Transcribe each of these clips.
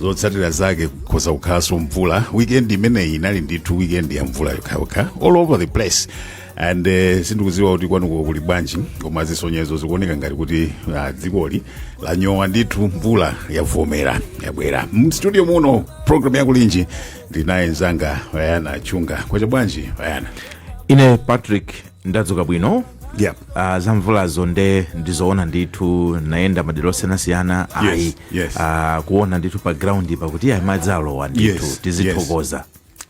zotsatira zake kukhoza kukhalanso mvula weekend imeneyi inali ndithu weekend ya mvula yokhayokha all over the place and uh, sindikuziwa kuti kwanuko kuli bwanji koma zisonyezo zikuoneka ngati kuti uh, dzikoli lanyowa ndithu mvula yavomera yabwera mstudio muno program ya Kulinji ndinaye nzanga Wayana Chunga kwacha bwanji Wayana ine Patrick ndadzuka bwino yeah. uh, za mvulazo nde ndizoona ndithu nayenda madera osiyanasiyana Yes, ayi yes. ah, kuona ndithu pa ground pakuti ayi madzi alowa ndithu Yes, tizithokoza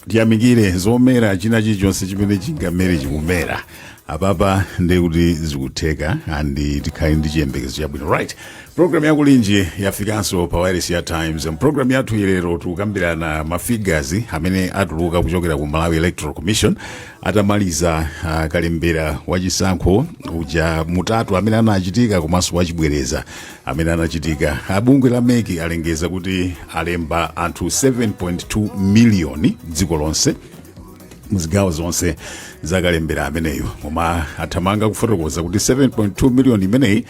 tiyamikire zomera china chilichonse chimene chingamere chikumera apapa ndiye kuti zikutheka andi tikhale ndi chiyembekezo chabwino right programu ya Kulinji yafikanso pa wireless ya Times programu yathuyi lero tikukambirana mafigures amene atuluka kuchokera ku Malawi Electoral Commission atamaliza uh, kalembera wachisankho uja mtatu amene anachitika komanso wachibwereza amene anachitika abungwe la MEC alengeza kuti alemba anthu 7.2 miliyoni dziko lonse muzigawo zonse zakalembera ameneyo koma athamanga kufotokoza kuti 7.2 miliyoni imeneyi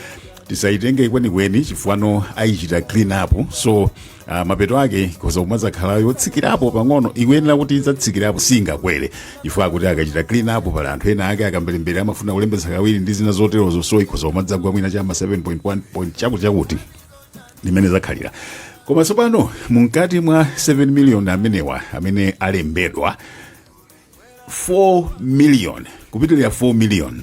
tisayitenge kwenikweni chifukwa ayichite clean up so Ah, mapeto ake ikhoza kumadzakhala yotsikirapo pang'ono ikuyenera kuti idzatsikirapo singakwere chifukwa akuti akachita clean up pali anthu ena ake akamberembera amafuna kulembetsa kawiri ndi zina zoterozo so ikhoza kumadzagwa mwina chama 7.1 point chakuti chakuti mmene zakhalira koma tsopano mumkati mwa 7 million amenewa amene alembedwa 4 million kupitirira 4 million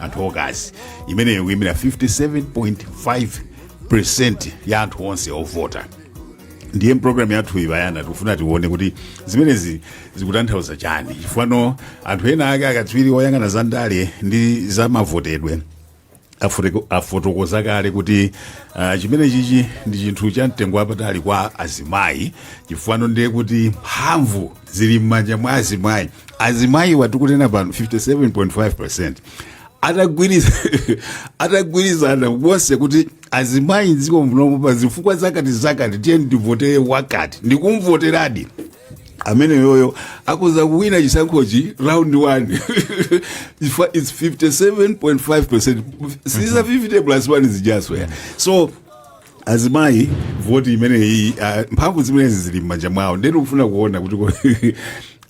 anthu okazi imeneyo kuyimira 57.5 ya anthu onse ovota ndiye mpulogalamu yathuyi Wayana tikufuna tione kuti zimenezi zikutanthauza chani chifukwa anthu ena ake akatswiri oyang'ana za ndale ndi za mavotedwe afote- afotokoza kale kuti uh, chimenechichi ndi chinthu cha mtengo wapatali kwa azimayi chifukwa ndiye kuti mphamvu zili m'manja mwa azimayi azimayiwa tikunena pano 57.5 atagwiriza atagwirizana onse kuti azimayi dziko munomu pa zifukwa zakati zakati tiyeni tivotere wakati ndikumvoteradi ameneyoyo akhoza kuwina chisankhochi round 1 If- its 57.5 siza 50 plus 1 zija zokha so azimayi voti imeneyi ah, mphamvu zimenezi zili m'manja mwawo nde ndikufuna kuona kuti ko-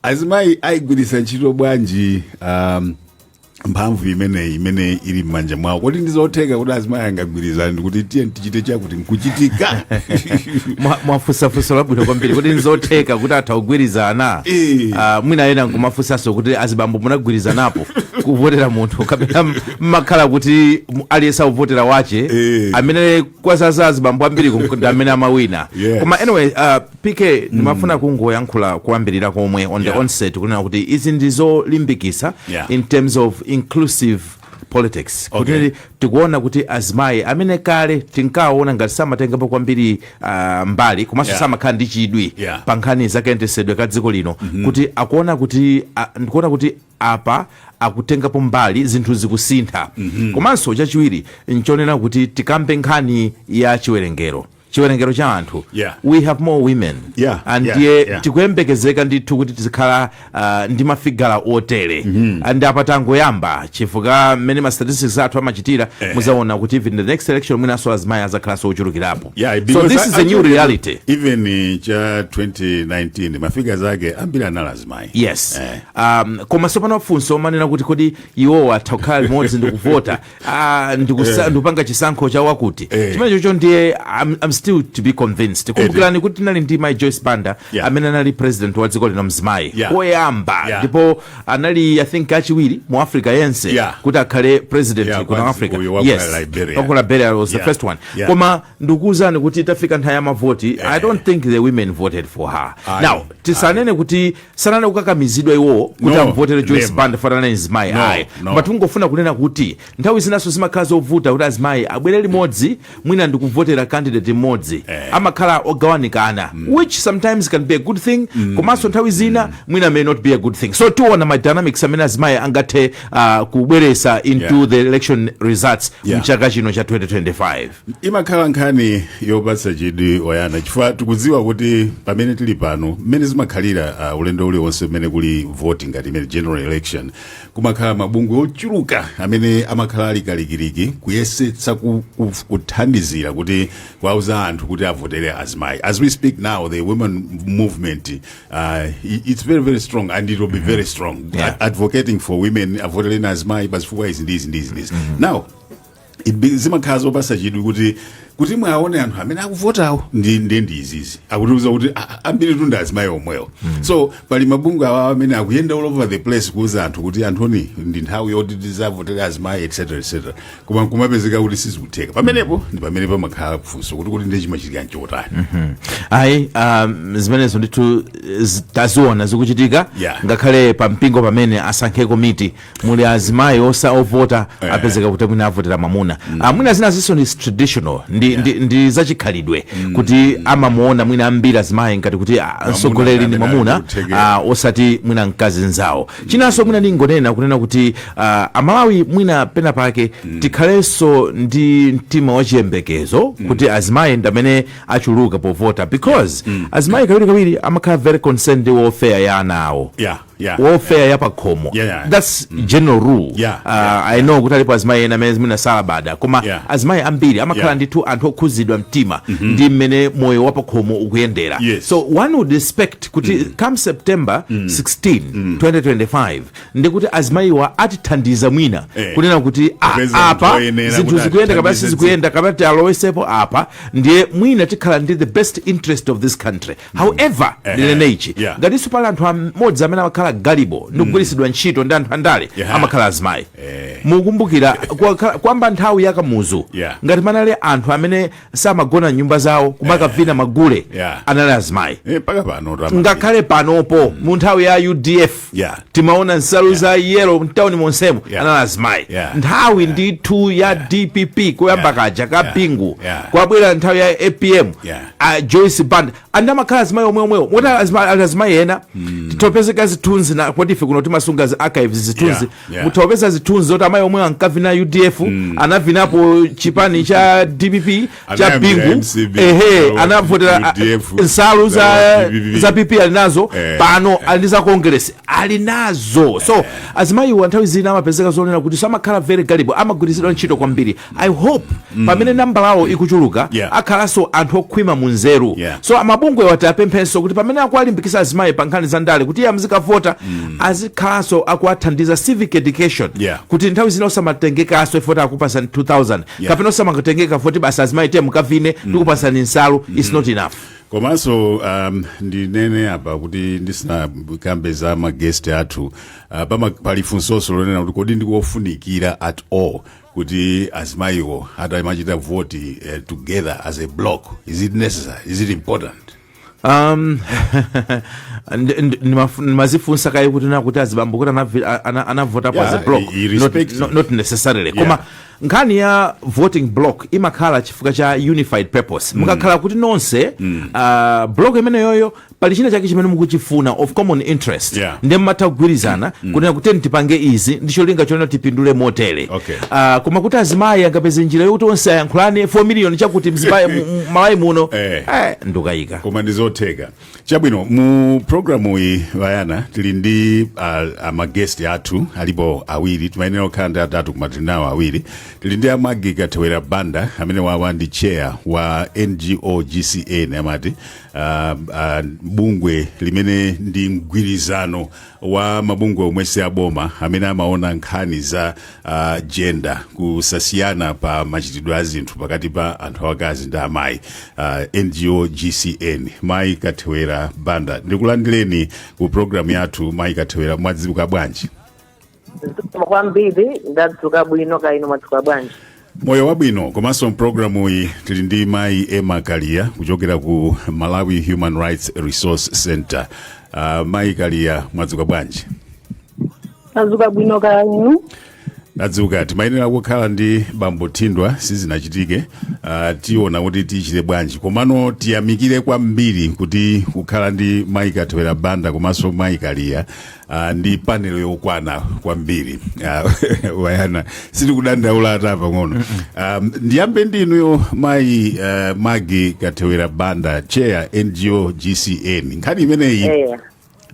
azimayi ayigwiritsa ntchito bwanji um, mphamvu imeneyi imene ili m'manja mwawo kodi ndizotheka kuti azimayi angagwirizane ndikuti tiyeni tichite chakuti nkuchitika Mwa- mwafunsa funso labwino kwambiri kuti nzotheka kuti atha kugwirizana Eh. Ah, mwina ena nkumafunsanso kuti azibambo munagwirizanapo kuvotera munthu kapena mmakhala kuti mu- aliyense akuvotera wache Eh. amene kwazaza azibambo ambiri ku- ndi amene amawina Yes. koma anyway uh, pk ndimafuna kungoyankhula kuyambirira komwe on the Yeah. outset kunena kuti izi ndizolimbikisa Yeah. in terms of inclusive politics Okay. kuti tikuona kuti azimayi amene kale tinkaona ngati samatengapo kwambiri uh, mbali komanso Yeah. samakhala ndi chidwi Yeah. pa nkhani zakayendetsedwe ka dziko lino kuti akuona kuti a- ndikuona kuti apa akutengapo mbali zinthu zikusintha komanso chachiwiri nchonena kuti tikambe nkhani ya chiwerengero chiwerengero cha anthu Yeah. we have more women Yeah, and yeah, ndiye yeah. tikuyembekezeka ndithu kuti tizikhala ah, ndi mafigala otere and apa tangoyamba chifukwa mmene ma statistics athu amachitira muzaona kuti even the next election mwinanso azimayi azakhalanso ochulukirapo Yeah, so because this is a new actually, reality Even eh, cha 2019 mafigala ake ambiri anali azimayi. yes Eh. Um, koma sopano funso omanena kuti kodi iwowo atakhala limodzi ndikuvota ah, ndikusa- Eh. ndikupanga chisankho cha wakuti Eh. chimene chocho ndiye I'm, I'm still to be convinced kumbukirani kuti tinali ndi mai joyce banda Yeah. amene anali president wa dziko lino mzimayi Yeah. woyamba Yeah. ndipo anali i think wachiwiri mu africa yense Yeah. kuti akhale president Yeah, kuno kwanzi- africa uyu wa ku Liberia. Wa ku liberia was the Yeah. first one Yeah. koma ndikuwuzani kuti itafika nthawi ya mavoti i don't think the women voted for her Aye. now tisanene kuti sanali okakamizidwa iwowo kuti No, amvotere joyce never. banda chifukwa ndi mzimayi No, ayi no. but tingofuna kunena kuti nthawi zinanso zimakhala zovuta kuti azimayi abwere limodzi mwina ndikuvotera candidate mmodzi amakhala ogawanikana which sometimes can be a good thing komanso nthawi zina mwina may not be a good thing so tiona ma dynamics amene azimayi angathe uh, kubweresa into Yeah. the election results Yeah. mchaka chino cha 2025 imakhala nkhani yopatsa chidwi oyana chifukwa tikudziwa kuti pamene tili pano mmene zimakhalira uh, ulendo uliwonse umene kuli voti ngati imene general election kumakhala mabungwe ochuluka amene amakhala ali kalikiliki kuyesetsa ku, ku, kuthandizira kuti kuwauza anthu kuti avotere azimayi as we speak now the women movement uh, i- it's very very strong and it will be very strong Yeah. advocating for women avotereni azimayi pazifukwa izi ndi izi ndi izi ndi izi now Ibi- zimakhala zopasa chidwi kuti kuti muwaone anthu amene akuvotawo ndi ndi ndi izizi akutiuza kuti "Ah, ah, ambiritu ndi azimayi omwewo so pali mabungwe awa amene akuyenda all over the place kuuza anthu kuti anthuni ndi nthawi yoti tizivotera azimayi etc etc koma kumapezeka kuti sizikutheka pamenepo ndi pamene pamakhala funso kuti kuti ndi chimachitika nchotani ayi um, zimenezo ndithu eh, zi- taziona zikuchitika Yeah. ngakhale pa mpingo pamene asankhe komiti muli azimayi ovota eh. apezeka kuti mwina avotera mamuna mm. Ah, mwina zinazonso ndi traditional ndi, yeah. ndi, ndi zachikhalidwe mm. kuti amamuona mwina ambiri azimayi ngati kuti ah, mtsogoleri ndi mamuna ah, osati mwina mkazi nzawo mm. chinanso mwina ndingonena kunena kuti uh, amalawi mwina pena pake mm. tikhalenso ndi mtima wachiyembekezo mm. kuti azimayi ndamene achuluka povota because mm. azimayi kawiri kawiri amakhala very concerned ndi welfare ya ana awo yeah. Yeah. welfare ya pakhomo Yeah, yeah. that's general rule Yeah, Uh, yeah, i know kuti alipo azimayi ena amene mwina salabada koma Yeah. azimayi ambiri amakhala Yeah. ndithu anthu okhuzidwa mtima ndi mmene moyo wa pakhomo ukuyendera Yes. so one would expect kuti come september 16 2025 ndikuti azimayiwa atithandiza mwina Eh. kunena kuti ah, Kupeza anthu apa oyenera zinthu kuti zikuyenda kapena atithandize sizikuyenda kapena tialowesepo apa ndiye mwina tikhala ndi the best interest of this country However, Ehe, ndinene ichi yeah. ngatinso pali anthu amodzi amene amakhala gullible ndi kugwiritsidwa ntchito ndi anthu andale Yeah. amakhala azimayi mukumbukira kwakhala- kwamba nthawi ya kamuzu Yeah. ngati panali anthu amene samagona m'nyumba zawo kumakavina magule Yeah. anali azimayi Eh, mpaka pano tama- ngakhale panopo mu nthawi ya udf Yeah. timaona nsalu za yelo mtauni monsemu Yeah. anali azimayi Yeah. nthawi ndithu ya dpp kuyamba Yeah. kaja ka Yeah. bingu Yeah. kwabwera nthawi ya apm Yeah. a joyce banda andi amakhala azimayi omwe omwewo moti azima- ali azimayi ena titapeza zithunzi na poti ife kuno timasunga zi archives zithunzi Yeah, yeah. mutapeza zithunzi zoti amayi omwe ankavina udf anavinapo chipani cha dpp cha Anayambira bingu MCB, ehe alo, anavotera UDF, nsalu za alo, PPP. za pp ali nazo Eh, pano ali ndi za congress ali nazo so azimayiwa nthawi zina amapezeka zonena kuti amakhala very gullible amagwiritsidwa ntchito kwambiri i hope pamene nambalawo ikuchuluka Yeah. akhalanso anthu okhwima mu nzeru Yeah. so amabungwe wa tiwapemphenso kuti pamene akuwalimbikitsa azimayi pa nkhani za ndale kuti iye adzikavota azikhalanso akuwathandiza civic education Yeah. kuti nthawi zina osamatengekanso poti akupatsani 2000 Yeah. kapena osamakatengeka poti basi azimayi tiye mukavine tikupatsani nsalu its not enough komanso um, ndinene apa kuti ndisinakambe za ma guest athu uh, pama, pali funsoso lonena kuti kodi ndikofunikira at all kuti azimayiwo azimachita vote eh, together as a block is it necessary is it important um ndi- ndi- ndimafu- ndimazifunsa kaye kuti na kuti azibambo kuti anavi- a- ana- anavota Yeah, as a block i- i- not, respective. not, not necessarily Yeah. koma nkhani ya voting block imakhala chifukwa cha unified purpose mukakhala kuti nonse uh, block imeneyoyo pali china chake chimene mukuchifuna of common interest Yeah. ndiye mumatha kugwirizana kunena kuti tipange izi ndi cholinga chonena tipindule motere Okay. Ah, koma kuti azimayi angapeze njira yokuti onse ayankhulane 4 miliyoni chakuti mzimayi mu- mu- malawi muno Eh. eh, ndukayika koma ndi zotheka chabwino mu programu iyi vayana tili ndi uh, amagesti athu alipo awiri timayenera kukhala ndi atatu koma tili nawo awiri tili ndi a magi kathewera banda amene wawa ndi chair wa ngo gcn amati uh, uh, bungwe limene ndi mgwirizano wa mabungwe omwe si aboma amene amaona nkhani za uh, jenda kusasiyana pa machitidwe a zinthu pakati pa anthu akazi ndi amayi uh, ngo gcn mayi kathewera banda ndikulandireni ku programu yathu mayi kathewera mwadzuka bwanji zikomo kwambiri ndadzuka bwino kaya inu mwadzuka bwanji moyo wabwino komanso mpulogalamu iyi tili ndi mayi emma kaliya kuchokera ku malawi human rights resource center uh, mayi kaliya mwadzuka bwanji ndadzuka bwino kaya inu tadzuka timayenera kukhala ndi bambo thindwa sizinachitike uh, tiona kuti tichite bwanji komano tiyamikire kwambiri kuti kukhala ndi mayi kathewera banda komanso mayi kaliya Ah, ndi panel yokwana kwambiri Ah, wayana sitikudandaula ata pang'ono um, ndiyambe ndinuyo mayi uh, magi kathewera banda chair ngo gcn nkhani imeneyi eya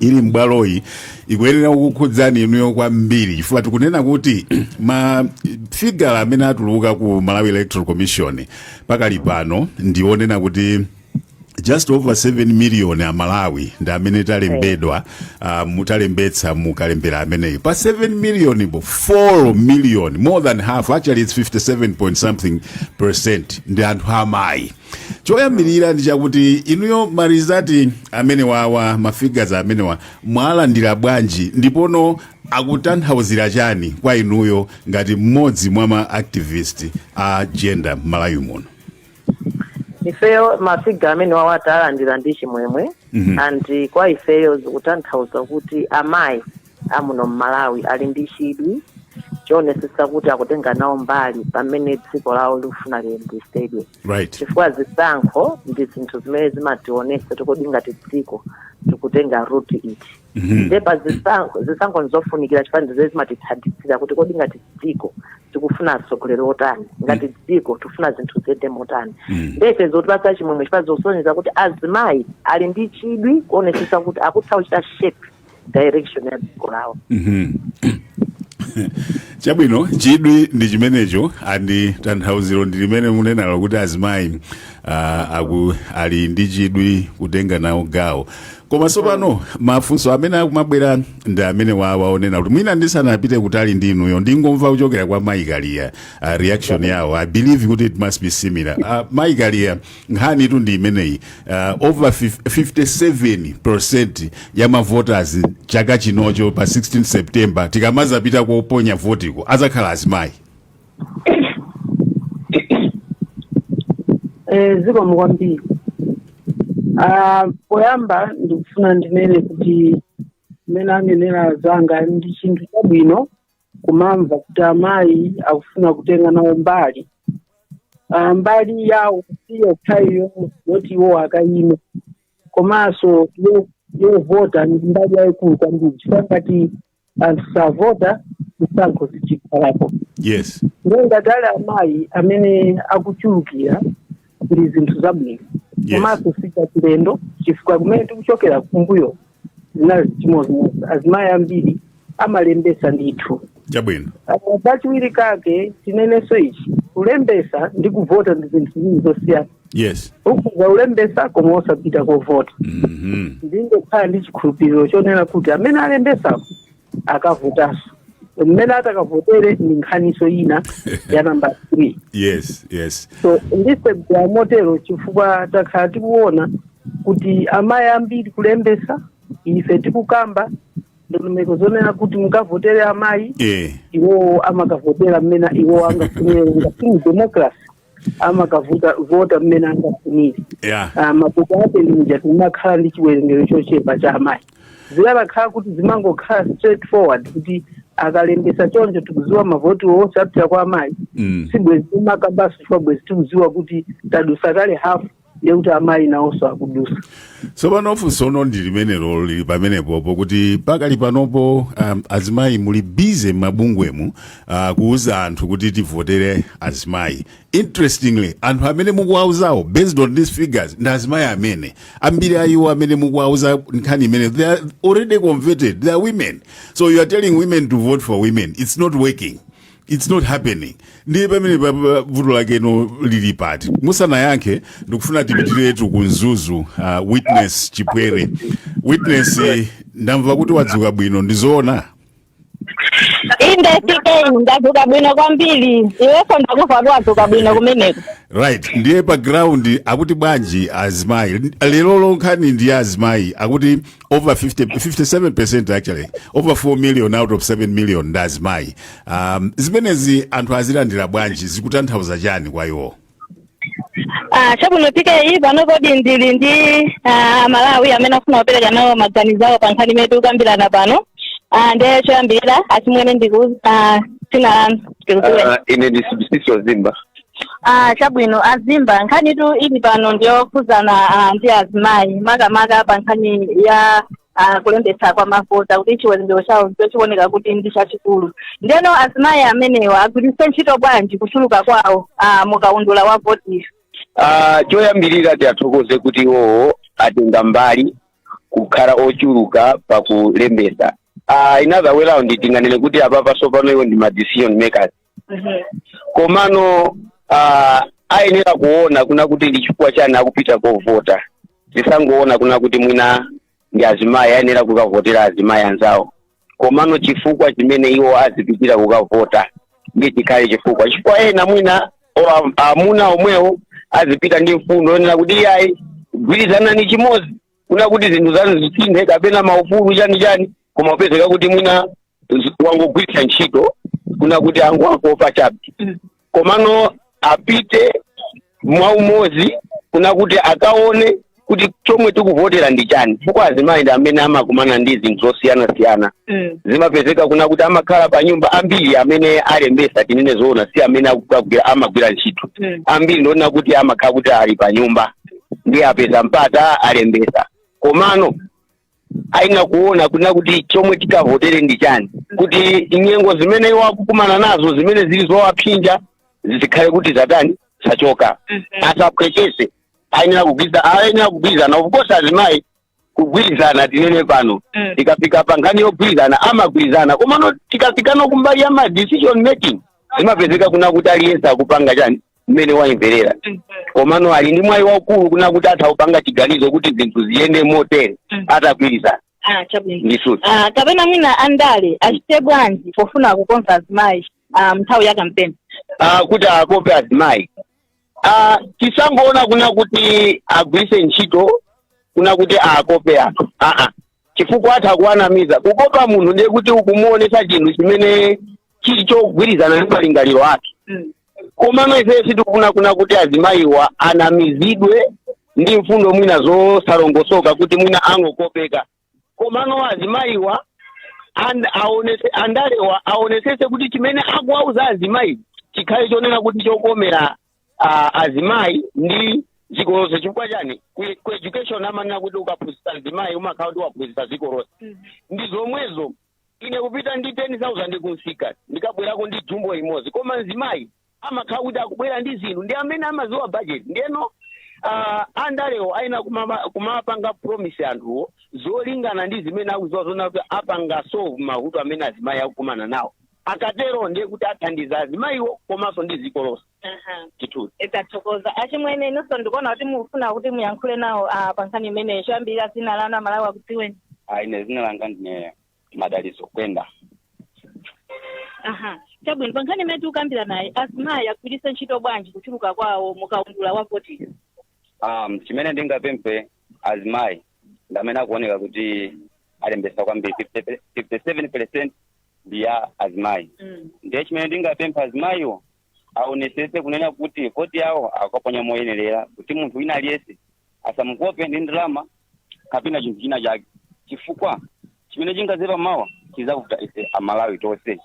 ili m'bwaloyi ikuyenera kukukhudzani inuyo kwambiri chifukwa tikunena kuti ma figala amene atuluka ku malawi electoral commission pakali pano ndi onena kuti just over 7 million a malawi ndi amene talembedwa uh, mutalembetsa mukalembera ameneyi pa 7 million po 4 million more than half actually it's 57 point something percent ndi anthu amayi choyambirira ndi chakuti inuyo marizati amene wawa mafigazi amenewa mwalandira bwanji ndipono akutanthauzira chani kwa inuyo ngati mmodzi mwa ma activist a gender m'malawi muno ifeyo mafiga amene wawa talandira ndi chimwemwe Mhm. and kwa ifeyo zikutanthauza kuti amayi amuno mmalawi ali ndi chidwi choonetsetsa kuti akutenga nawo mbali pamene dziko lawo likufuna liyendetsedwe right chifukwa zisankho ndi zinthu zimene zimationetsa kuti kodi ngati dziko tikutenga ruti iti ndeba zisankho nzofunikira chifukwa ndi zimene zimatithandizira kuti kodi ngati dziko tikufuna atsogoleri otani ngati dziko tikufuna zinthu ziyende motani nde ife zotipatsa chimwemwe chifukwa zosonyeza kuti azimayi ali ndi chidwi kuonetsetsa kuti akutha kuchita shape direction ya dziko lawo chabwino chidwi ndi chimenecho and tanthauziro ndi limene munenalo kuti azimayi uh, aku ali ndi chidwi kutenga nawo gawo koma tsopano mafunso amene akumabwera ndi amene aja onena kuti mwina ndisanapite kutali ndi inuyo ndingomva kuchokera kwa Mayi Kaliya uh, reaction yawo i believe kuti it must be similar uh, Mayi Kaliya nkhanitu ndi imeneyi uh, over fif- 57 ya mavoters chaka chinochi pa 16 september tikamazapita koponya votiko azakhala azimayi Eh, zikomo kwambiri Ah, poyamba ndikufuna ndinene kuti mmene anenera anzanga ndi chinthu chabwino kumamva kuti amayi akufuna kutenga nawo mbali Ah, mbali yawo si yokhayo yoti iwo akayime komanso yo- yovota ndi mbali yayikulu kwambiri chifukwa ngati anthu savota zisankho sizikhalapo yes ndiye ngati ali amayi amene akuchulukira ndi zinthu zabwino Yes. komanso sichachilendo chifukwa kumene tikuchokera kumbuyo zinali chimodzimodzi azimayi ambiri amalembesa ndithu chabwino Uh, pachiwiri kake tinenenso ichi kulembesa ndi kuvota ndi zinthu ziwiri zosiyana yes ukhoza kulembetsa koma osapita kovota Mhm. ndingokhala ndi chikhulupiriro chonena kuti amene alembetsako akavotanso mmene atakavotere ndi nkhaniso ina ya namba 3 yes yes so ndiseka motero chifukwa takhala tikuona kuti amayi ambiri kulembesa ife tikukamba ndondomeko zonena kuti mukavotere amayi eh iwowo amakavotera mmene iwowo angafunire ngati mu democracy amakavota vota mmene angafunire ya Ah, mapeto ake ndi muja timakhala ndi chiwerengero chochepa cha amayi zikanakhala kuti zimangokhala straight forward kuti akalembesa choncho tikuziwa mavoti onse apita kwa amayi Mm. sibwezi timakambaso chifukwa bwezi tikuziwa kuti tadusa kale hafu ndiye kuti amayi nawonso akudusa tsopano funsono ndi limenelo lili pamenepopo kuti pakali panopo um, azimayi muli busy m'mabungwemu uh, kuuza anthu kuti tivotere azimayi interestingly anthu amene mukuwauzawo based on these figures ndi azimayi amene ambiri a iwo amene mukuwauza nkhani imene they are already converted they are women so you are telling women to vote for women it's not working it's not happening ndiye pamene pa- pa- vuto lakelo lili pati musanayankhe ndikufuna tipitiretu ku mzuzu uh, witness chipwete witness eh, ndamva kuti wadzuka bwino ndizoona inde tk ndadzuka bwino kwambiri iwenso ndamva kuti wadzuka bwino kumeneko right ndiye pa ground akuti bwanji azimayi lerolo nkhani ndi azimayi akuti over 50, 57% actually over 4 million out of 7 million ndi azimayi um, zimenezi anthu azilandira bwanji zikutanthauza chani kwa iwo Ah, chabwino tk pano kodi ndili ndi amalawi amene afuna kupereka nawo maganizo awo pa nkhani imene tikukambirana pano Ah, ndiye choyambirira achimwene ndiuzeni ah, dzina lanu ndikudziweni Ah, ine ndi sibusiso zimba Ah, chabwino azimba nkhanitu ili pano ndiyokhudzana ah, ndi azimayi makamaka pa nkhani ya ah, kulembetsa kwa mavota kuti chiwerengero chawo chikuoneka kuti ndi chachikulu ndeno azimayi amenewa agwiritse ntchito bwanji kuchuluka kwawo ah, mukaundula wa voti Ah, choyambirira tiwathokoze kuti iwowo atenga mbali kukhala ochuluka pakulembetsa uh, in other way round tinganene kuti apapa sopano iwo ndi ma decision makers komano ah, ayenera kuona kuna kuti ndi chifukwa chani akupita kovota tisangoona kuna kuti mwina ndi azimayi ayenera kukavotera azimayi anzawo komano chifukwa chimene iwo azipitira kukavota ndiye chikhale chifukwa chifukwa ena mwina o- am- amuna omwewo azipita ndi mfundo yonena kuti iyayi gwirizanani chimodzi kuna kuti zinthu zanu zisinthe kapena maufulu chani chani koma upezeka kuti mwina z- angogwiritsa ntchito kuna kuti angoakopa chabe komano apite mwa umodzi kuna kuti akaone kuti chomwe tikuvotera ndi chani chifukwa azimayi ndi amene amakumana ndi zinthu zosiyanasiyana Mm. zimapezeka kuna kuti amakhala pa nyumba ambiri amene alembesa tinene zoona si amene akugwira- amagwira ntchito Mm. ambiri ndi onena kuti amakhala kuti ali pa nyumba ndiye apeza mpata alembesa komano ayenera kuona kunena kuti chomwe tikavotere ndi chani kuti nyengo zimene iwo akukumana nazo zimene zili zowapsinja zikhale kuti zatani zachoka asaphweketse ayenera kugwi- ayenera kugwirizana of course azimayi kugwirizana tinene pano Mm. tikafika pa nkhani yogwirizana amagwirizana komano tikafikano kumbali ya ma decision making zimapezeka kuna kuti aliyense akupanga chani mmene wayimverera komano ali ndi mwayi waukulu kuna kuti atha kupanga chiganizo kuti zinthu ziyende motere Mm. atagwirizana Ah, chabwino ndisuti Ah, kapena mwina andale achite bwanji pofuna kukonza azimayi ah, mnthawi ya kampeni Ah, kuti akope azimayi Ah, tisangoona kuna kuti agwiritse ntchito kuna kuti akope anthu aa chifukwa atha kuwanamiza kukopa munthu ndiye kuti ukumuonesa chinthu chimene chili chogwirizana ndi malingaliro ake Mm. komano ife sitikufuna kuna kuti azimayiwa anamizidwe ndi mfundo mwina zosalongosoka kuti mwina angokopeka komano azimayiwa and, aonese, andalewa aonesese kuti chimene akuwauza azimayi chikhale chonena kuti chokomera uh, azimayi ndi dziko lonse chifukwa chani ku ku education amanena kuti ukaphunzitsa azimayi umakhala kuti waphunzitsa dziko lonse ndi zomwezo ine kupita ndi 10000 kunsika ndikabwerako ndi jumbo imodzi koma mzimayi amakhala kuti akubwera ndi zinthu ndi amene amaziwa budget ndiyeno uh, andalewo ayenera kumama- kumapanga promise anthuwo zolingana ndi zimene akuziwa zoona kuti apanga solve mavuto amene azimayi akukumana nawo akatero ndiye kuti athandiza azimayiwo komanso ndi dziko lonse Aha. ndithu tathokoza achimwene inonso ndikuona kuti mufuna kuti muyankhule nawo ah, pa nkhani imeneyi choyambirira dzina lanu amalawi akudziweni Ah, ine zina langa ndine madaliso kwenda aha chabwino pa nkhani imene tikukambiranayi azimayi agwiritse ntchito bwanji kuchuluka kwawo mukaundula wa voti um, chimene ndingapemphe azimayi ndi amene akuoneka kuti alembesa kwambiri 57 percent ndi ya azimayi Mm. ndiye chimene ndingapemphe azimayiwo aonesese kunena kuti voti yawo akaponya moyenerera kuti munthu wina aliyense asamukope ndi ndalama kapena chinthu china chake chifukwa chimene chingazaipe mawa chizavuta ife amalawi tonse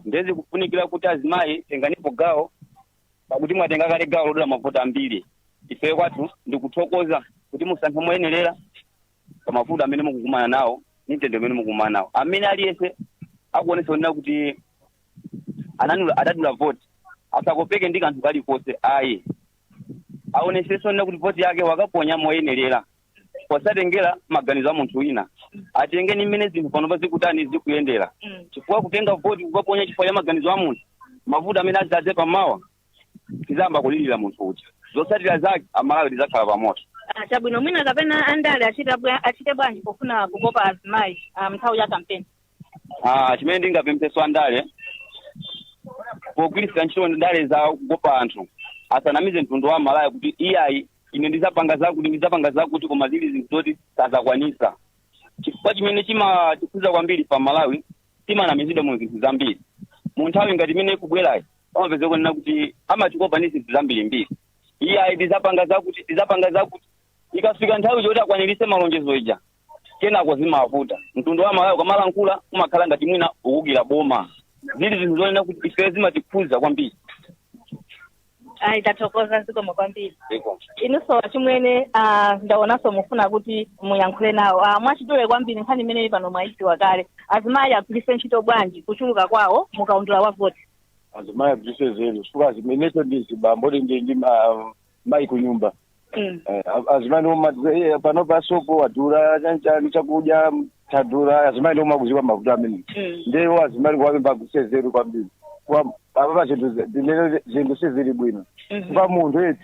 nde zikufunikira kuti azimayi tenganipo gawo pakuti mwatenga kale gawo lodula mavoti ambiri ife kwathu ndikuthokoza kuti musankhe moyenerera pa mavuto amene mukukumana nawo ndi mtendere umene mukukumana nawo amene aliyense akuonesa kunena kuti anadula adadula vote asakopeke ndi kanthu kalikonse ayi aonesese kunena kuti vote yake wakaponya moyenerera posatengera maganizo a munthu wina atenge ndi mmene zinthu panopa zikutani zikuyendera chifukwa kutenga voti kukaponya chifukwa cha maganizo a munthu mavuto amene azadze pamawa tizayamba kulilira munthu uja zotsatira zake amalawi tizakhala pamoto Ah, chabwino mwina kapena andale achita bwa- achite bwanji pofuna kukopa azimayi ah, mnthawi ya kampeni Ah, chimene ndingapempheso andale pogwiritsa ntchito ndale za kukopa anthu asanamize mtundu wa amalawi kuti iyayi ine ndizapanga zakuti ndizapanga zakuti koma zili zinthu zoti sazakwanisa chifukwa chimene chimatikhuza kwambiri pa malawi timanamizidwa mu zinthu zambiri mu nthawi ngati imene ikubwerayi amapeza kunena kuti amatikopa ndi zinthu zambirimbiri iye ayi tizapanga zakuti tizapanga zakuti ikafika nthawi yoti akwaniritse malonjezo ija kenako zimavuta mtundu wa malawi ukamalankhula umakhala ngati mwina uukira boma zili zinthu zonena kuti ife zimatikhuza kwambiri ayi tathokoza zikomo kwambiri Ziko. inunso achimwene ah, ndaonanso mufuna kuti muyankhule nawo Ah, mwachidule kwambiri nkhani imeneyi pano mwayidziwa kale azimayi agwiritse ntchito bwanji kuchuluka kwawo mukaundula wa voti azimayi agwiritse nzeru chifukwa zimenezo ndi zibambo ndi ndi ndi ma- mayi ku nyumba Mm. Eh, a- azimayi ndiwo matiza iye pano pasopo wadula chanchani chakudya tadula azimayi ndiwo akuziwa mavuto amene Mm. ndiye azimayi kuwapempha agwiritse nzeru kwambiri Kwa- apapa zinthu zi- zimene zinthu sizili bwino Mhm. chifukwa munthu eti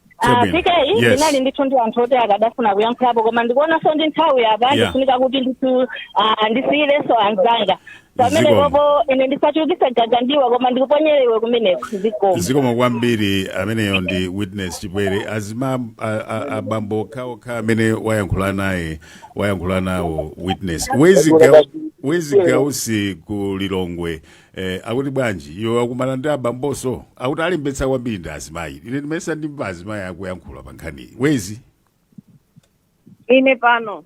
Ah, Chabwino. PK Yes. ndinali ndithu ndi anthu oti akadafuna kuyankhulapo koma ndikuonanso ndi nthawi apa Yeah. ifunika kuti ndithu ah, ndisiyirenso anzanga pamene Zikomo. pompo ine ndisachulukise gaga mdiwa koma ndikuponyere iwe kumeneko zikomo zikomo kwambiri ameneyo ndi witness chipwere azima a- a- abambo okhaokha amene wayankhula naye wayankhula nawo witness wezzie Ga- wezzie gausi ku lilongwe Eh, akuti bwanji iwo wakumana ndi abambonso akuti alembetsa kwambiri ndi azimayi ine ndimesa ndi azimayi akuyankhula pa nkhaniyi wezzie ine pano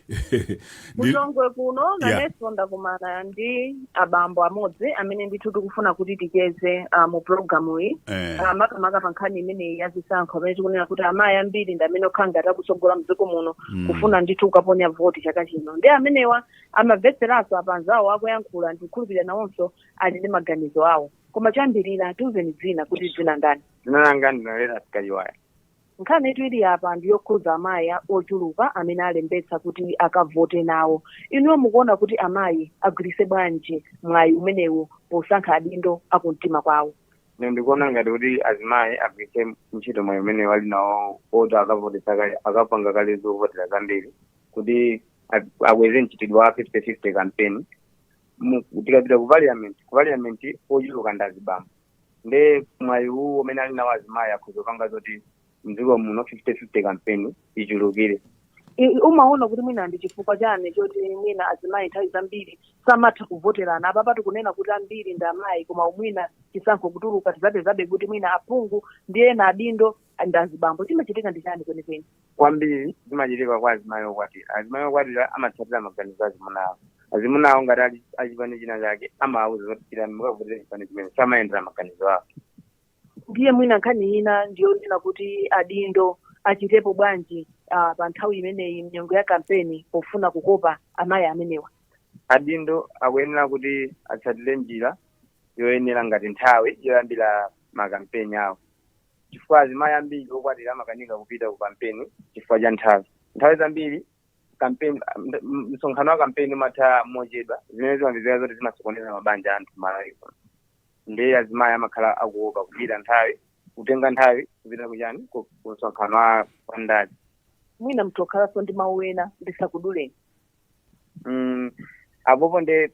Ndi- kulilongwe kuno Yeah. nanenso ndakumana ndi abambo amodzi amene ndithu tikufuna kuti ticheze ah, mu programu iyi eh, Ah, makamaka pa nkhani imeneyi ya zisankho amene tikunena kuti amayi ambiri ndi amene akhala ngati akutsogola mdziko muno kufuna ndithu kukaponya voti chaka chino ndi amenewa amamvetseranso apa anzawo akuyankhula ndikukhulupirira nawonso ali ndi maganizo awo koma choyambirira tiuzeni dzina kuti dzina ndani dzina langa ndi nalera sikaliwaya nkhanitu ili apa ndi yokhudza amayi a- ochuluka amene alembetsa kuti akavote nawo inuyo mukuona kuti amayi agwiritse bwanji mwayi umenewu posankha adindo akumtima kwawo ine ndikuona ngati kuti azimayi agwiritse ntchito mwayi umenewu ali nawo oti akavotesa kale akapanga kale zovotera zambiri kuti a- akweze mchitidwe wa 50-50 campaign Mu- tikapita ku parliament ku parliament ochuluka ndi azibambo nde mwayi uwu umene ali nawo azimayi akhoza kupanga zoti mdziko muno 50-50 campaign ichulukire I- i- mumaona kuti mwina ndi chifukwa chani choti mwina azimayi nthawi zambiri samatha kuvoterana apapatu kunena kuti ambiri ndi amayi koma mwina chisankho kutuluka tizapezabe kuti mwina aphungu ndi ena adindo ndi azibambo chimachitika ndi chani kwenikweni kwambiri zimachitika kwa azimayi okwatira azimayi okwatira amatsatira maganizo azimuna awo azimuna awo ngati ali a chipani china chake amawauza zoti chitani mukavotera chipani chimene samayendera maganizo awo ndiye mwina nkhani ina ndiyonena kuti adindo achitepo bwanji uh, pa nthawi imeneyi mnyengo ya kampeni pofuna kukopa amayi amenewa adindo akuyenera kuti atsatire njira yoyenera ngati nthawi yoyambira makampeni awo chifukwa azimayi ambiri okwatira amakanika kupita ku kampeni chifukwa cha nthawi nthawi zambiri kampeni msonkhano wa kampeni umatha mochedwa zimene zimapezeka zoti zimasokoneza mabanja anthu malawi ndiye azimayi amakhala akuopa kupita nthawi kutenga nthawi kupita kuchani ku ku msonkhano wa wa ndale mwina mutha kukhalanso ndi mawu ena ndisakuduleni Mm, apopo nde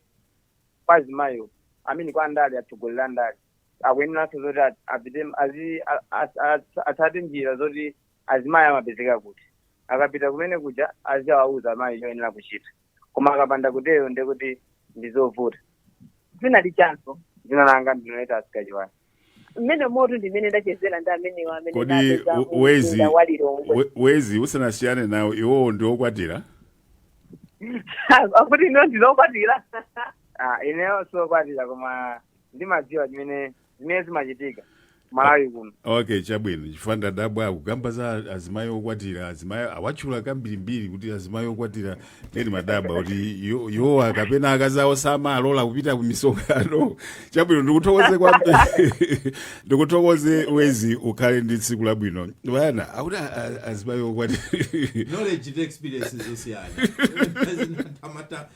kwa azimayiwo amene kwa andale atsogoleri andale akuyeneranso zoti a- apite azi- a- a- a- atsate njira zoti azimayi amapezeka kuti akapita kumene kuja aziwauza amayi choyenera kuchita koma akapanda kutero ndiye kuti ndizovuta dzina lijanso dzina langa ndi noyeta sikachiwani mmene moto ndi amene ndachezera ndi amenewo amene kodi ndapeza we- wezi mumzinda wa lilongwe we- wezi usanasiyane nawo iwowo ndi okwatira akuti inu ndinu okwatira Ah, ineyo sokwatira koma ndimadziwa chimene zimene zimachitika malawi kuno okay chabwino chifukwa ndadabwa akukamba za azimayi okwatira azimayi awatchula kambirimbiri kuti azimayi okwatira nde ndimadabwa kuti i- iwowa kapena akazi awo samalola kupita ku misonkhano chabwino ndikuthokoze kwambiri ndikuthokoze wezi ukhale ndi tsiku labwino banda akuti a- a- azimayi okwatira knowledge ndi experience zosiyana Zina- amata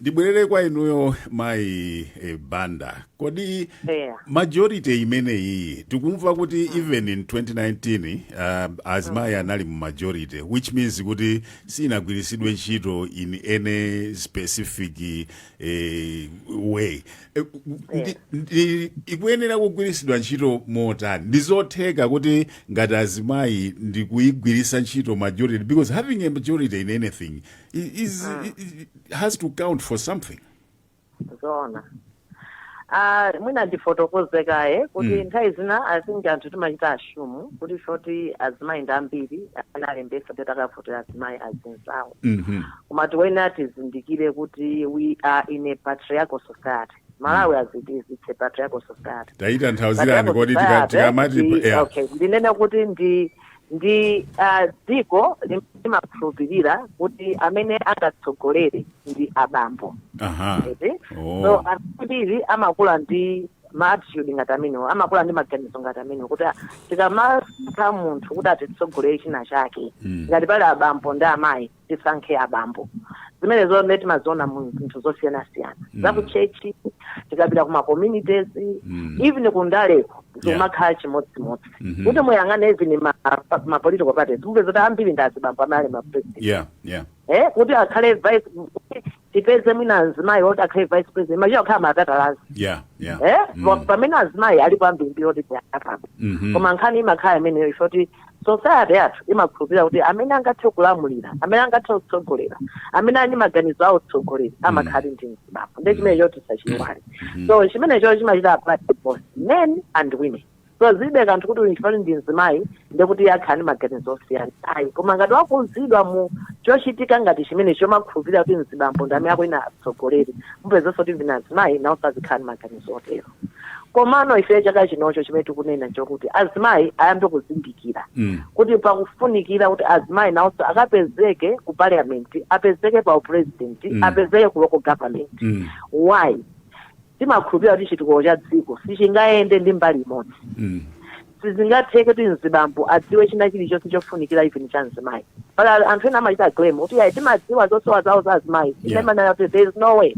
ndibwerere kwa inuyo mayi eh, banda kodi Yeah. majority imeneyi tikumva kuti even in 2019 uh, azimayi anali mu majority which means kuti sinagwiritsidwe ntchito in any specific eh, way Eh, ndi- ndi- ikuyenera kugwiritsidwa ntchito motani ndi zotheka kuti ngati azimayi ndikuyigwiritsa ntchito majority because having a majority in anything i- is, i- i- has to count for something zoona Ah, mwina ndifotokoze kaye kuti Mm. nthawi zina i think anthu timachita assume kuti poti azimayi ndi ambiri amene alembesa kuti akavotera azimayi azinzawo Mhm. koma tiyeni tizindikire kuti we are in a patriarchal society malawi as it is it's a patriarchal society tatitanthauzirani kodi tika- tikamati yeah. ndinene kuti ndi Ndi dziko limene limakhulupirira kuti amene angatsogolere ndi abambo. aha Eti? Oh. So anthu ambiri amakula ndi ma attitude ngati amenewo, amakula ndi maganizo ngati amenewo kuti ah, tikamasankha munthu kuti atitsogolere china chake. Mm. Ngati pali abambo ndi amayi, tisankhe abambo zimenezo nde timaziona mu zinthu zosiyanasiyana Mm. za ku chechi tikapita ku ma communities Mm. even ku ndaleko zimakhala chimodzimodzi Mhm. kuti muyang'ane even ma, pa- ma political parties mupeza kuti ambiri ndi azibambo amene ali ma president yeah yeah eh, kuti akhale vice kuti tipeze mwina azimayi oti akhale vice president imachita kukhala matatalazi yeah yeah eh Mm. Pa- pamene azimayi alipo ambirimbiri oti apa Mhm. koma nkhani imakhala imeneyo yoti society yathu imakhulupirira kuti amene angathe kulamulira amene angathe kutsogolera amene ali ndi maganizo a utsogoleri amakhala ndi mzibambo nde chimenecho tisachiwale so chimenecho chimachita apply to both men and women so zilibe kanthu kuti uyu chifukwa ndi mzimayi ndekuti iye akhala ndi maganizo osiyana ayi koma ngati wakuzidwa mu chochitika ngati chimenecho chomakhulupirira kuti mzibambo ndi amene akuyenera atsogolere mupezanso kuti mwina azimayi nawonso azikhala ndi maganizo otero komano ifeyo chaka chino chimene tikunena nchokuti azimayi ayambe kuzindikira Mm. kuti pakufunikira kuti azimayi nawonso akapezeke ku parliament apezeke pa upresident Mm. apezeke ku local government Mm. why timakhulupirira kuti chitukuko cha dziko sichingayende ndi mbali imodzi Mm. sizingatheke kuti mzibambo adziwe china chilichonse chofunikira even cha mzimayi pali anthu ena amachita claim kuti ayi timadziwa zosowa zawo za azimayi Yeah. ine ndimanena kuti there is no way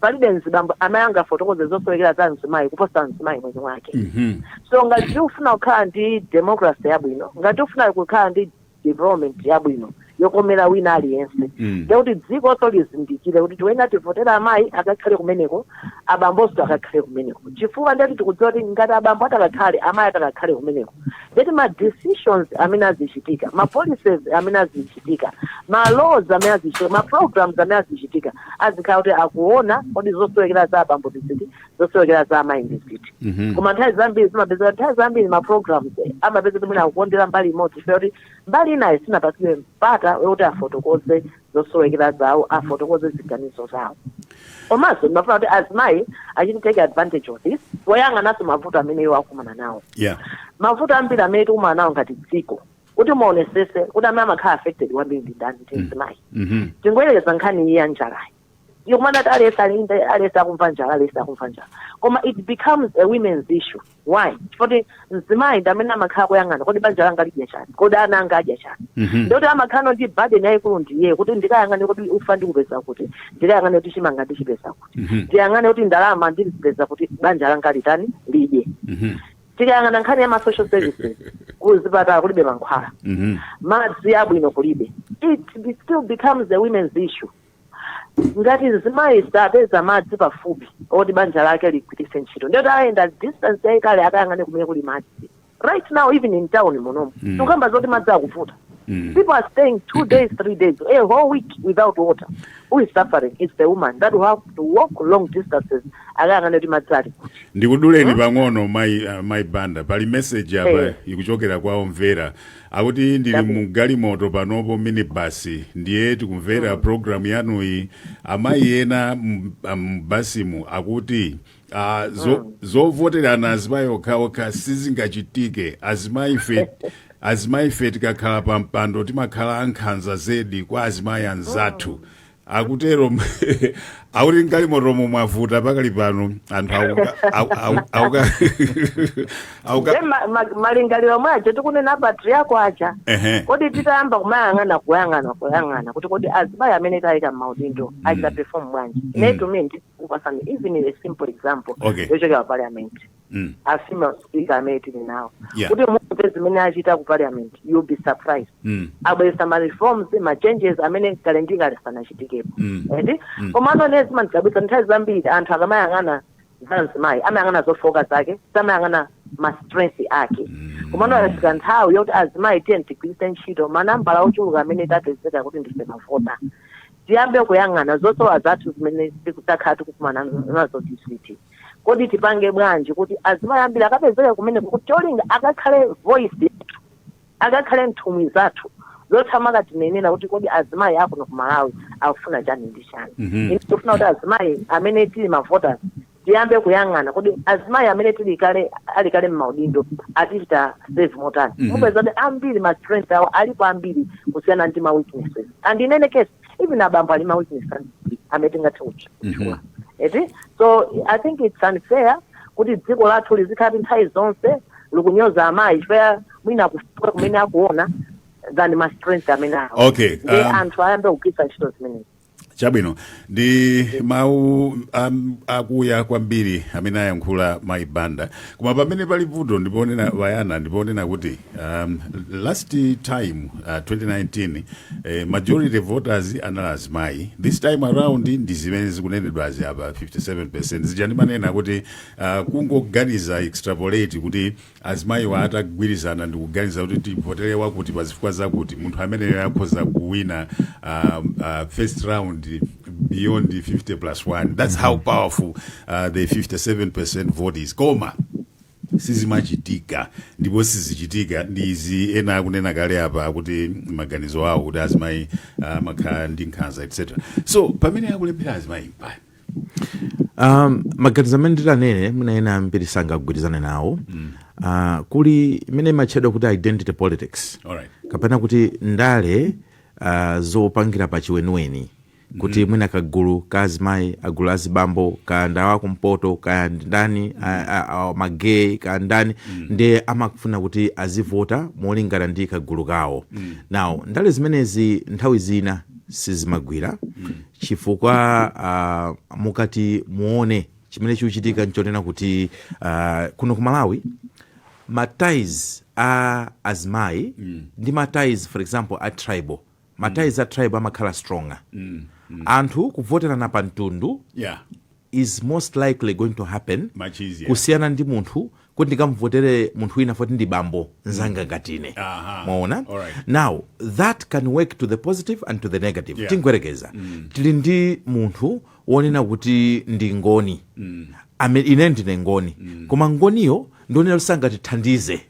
palibe mzibambo amene angafotokoze zosowekera za mzimayi kuposa mzimayi mwini wake Mhm. so ngati tikufuna kukhala ndi democracy yabwino ngati tikufuna kukhala ndi development yabwino yokomera wina aliyense Mm. nde kuti dzikonso lizindikire kuti tiyeni tivotere amayi akakhale kumeneko abambonso akakhale kumeneko chifukwa ndeti tikudziwa kuti ngati abambo atakakhale amayi atakakhale kumeneko ndeti ma decisions amene azichitika ma policies amene azichitika ma laws amene azichitika ma programs amene azichitika azikhala kuti akuona kodi zosowekera za abambo ndi ziti zosowekera za amayi ndi ziti Mhm. koma nthawi zambiri zimapezeka kuti nthawi zambiri ma programs eh, amapezeka kuti mwina akukondera mbali imodzi chifukwa choti mbali inayo sinapatsidwe mpata woti afotokoze zosowekera zawo afotokoze ziganizo zawo komanso ndimafuna kuti azimayi achite take advantage of this poyang'ananso mavuto amene iwo akumana nawo yeah mavuto ambiri amene tikumana nawo ngati dziko kuti muonesese kuti amene amakhala affected kwambiri ndi ndani ndi mzimayi Mhm. tingoyerekeza nkhani iyi ya njalayi yokumana kuti alesi alinde alesi akumva njala alesi akumva njala koma it becomes a women's issue why chifukwa mzimayi ndi amene amakhala kuyang'ana kodi banja langa lidya chani kodi ana anga adya chani Mhm. ndikuti amakhala ndi burden yayikulu ndiye kuti ndikayang'ane kuti ufa ndiupeza kuti ndikayang'ane kuti chimanga ndichipeza kuti Mhm. ndiyang'ane kuti ndalama ndizipeza kuti banja langa litani lidye Mhm. tikayang'ana nkhani ya ma social services kuzipatala kulibe mankhwala Mhm. madzi abwino kulibe it be- still becomes a women's issue ngati mzimayi sapeza madzi pafupi oti banja lake ligwiritse ntchito ndiyoti ayenda distance yayitali akayang'ane kumene kuli madzi right now even in town munomu Mm. tikukamba zoti madzi akuvuta Mm. people are staying two days three days a whole week without water who is suffering it's the woman that will have to walk long distances akayang'ane kuti madzi ali kuti ndikuduleni pang'ono mayi uh, mayi banda pali message apa Eh. ikuchokera kwa omvera Akuti ndili Chabwino. mu galimoto panopo minibus ndiye tikumvera Mm. program yanuyi amayi ena mu- a- mu basimu akuti ah, zo- Mm. zovoterana azimayi okhaokha sizingachitike azimayife azimayife tikakhala pa mpando timakhala ankhanza zedi kwa azimayi anzathu akutero akuti mgalimotomo mwavuta pakali pano anthu akuka- aku- aku- akuka- akuka- Nde ma- ma- malingaliro mwa cho tikunena a patriyakwa aja Ehe. kodi titayamba kumayang'ana kuyang'ana kuyang'ana kuti kodi azimayi amene tawayika mmaudindo achita perform bwanji nde to me ndikupatsani even a simple example Okay. yochokera parliament mm. a female speaker amene tili nawo Yeah. kuti mumve zimene achita ku parliament you'll be surprised Mm. abweretsa ma reforms ma changes amene kale ndi kale sanachitikepo Mm. eti Mm. komano ine zimandidabwitsa nthawi zambiri anthu akamayang'ana za mzimayi amayang'ana zofooka zake samayang'ana ma strength ake komano yafika nthawi yoti azimayi tiyeni tigwiritse ntchito manambala ochuluka amene tapezeka kuti ndife mavota tiyambe kuyang'ana zosowa zathu zimene takhala tikukumana nazo ndi izi eti kodi tipange bwanji kuti azimayi ambiri akapezeke kumeneko kuti cholinga akakhale voice akakhale nthumwi zathu zoti azikatinenera kuti kodi azimayi akuno ku malawi akufuna chani ndi chani Mhm. Ine tikufuna kuti azimayi amene tili mavoters tiyambe kuyang'ana kodi azimayi amene tili kale ali kale mmaudindo atichita serve motani Mhm. mupeza kuti ambiri ma strength awo alipo ambiri kusiyana ndi ma weaknesses and in any case even abambo ali ndi ma weaknesses ambiri amene tingathe kutchula eti so i think it's unfair kuti dziko lathu lizikhala nthawi zonse likunyoza amayi chifukwa mwina kufooka kumene akuona than ma strength amene awo Okay, nde um, anthu ayambe kugwiritsa ntchito zimenezi chabwino ndi mawu um, akuya kwambiri amene ayankhula mayi banda koma pamene pali vuto ndiponena bayana ndiponena kuti Um, last time uh, 2019 eh, majority voters anali azimayi this time around ndi zimene zikunenedwa apa 57 zija ndimanena kuti uh, kungoganiza extrapolate kuti azimayiwa atagwirizana ndikuganiza kuti tivotere wakuti pa zifukwa zakuti munthu ameneyo akhoza kuwina uh, uh, first round beyond 50 plus 1 that's how powerful uh, the 57 vote is koma sizimachitika ndipo sizichitika ndi izi ena akunena kale apa kuti maganizo awo kuti azimayi amakhala ndi nkhanza etc so pamene akulephera azimayi um, maganizo amene nditanene mwina ena ambiri sangagwirizane nawo mm. uh, kuli imene imatchedwa kuti identity politics alright kapena kuti ndale uh, zopangira pa chiweniweni kuti mwina kagulu ka azimayi kagulu ka azibambo kaya ndawa kumpoto kaya ndani magay kaya ndani ndiye amafuna kuti azivota molingana ndi kagulu kawo now ndale zimenezi nthawi zina sizimagwira chifukwa ah, mukati muone chimene chikuchitika nchonena kuti ah, kuno ku malawi ma ties a azimayi ndi ma ties for example a tribal ma ties a tribe amakhala stronger anthu kuvoterana pa mtundu yeah is most likely going to happen Much easier. kusiyana ndi munthu kuti ndikamvotere munthu wina foti ndi bambo nzanga ngati ine Aha. mwaona Alright. now that can work to the positive and to the negative Yeah. tingoyerekeza tili ndi munthu wonena kuti ndi mngoni Ame, ine ndine mngoni koma mngoniyo ndi wonena kuti sangatithandize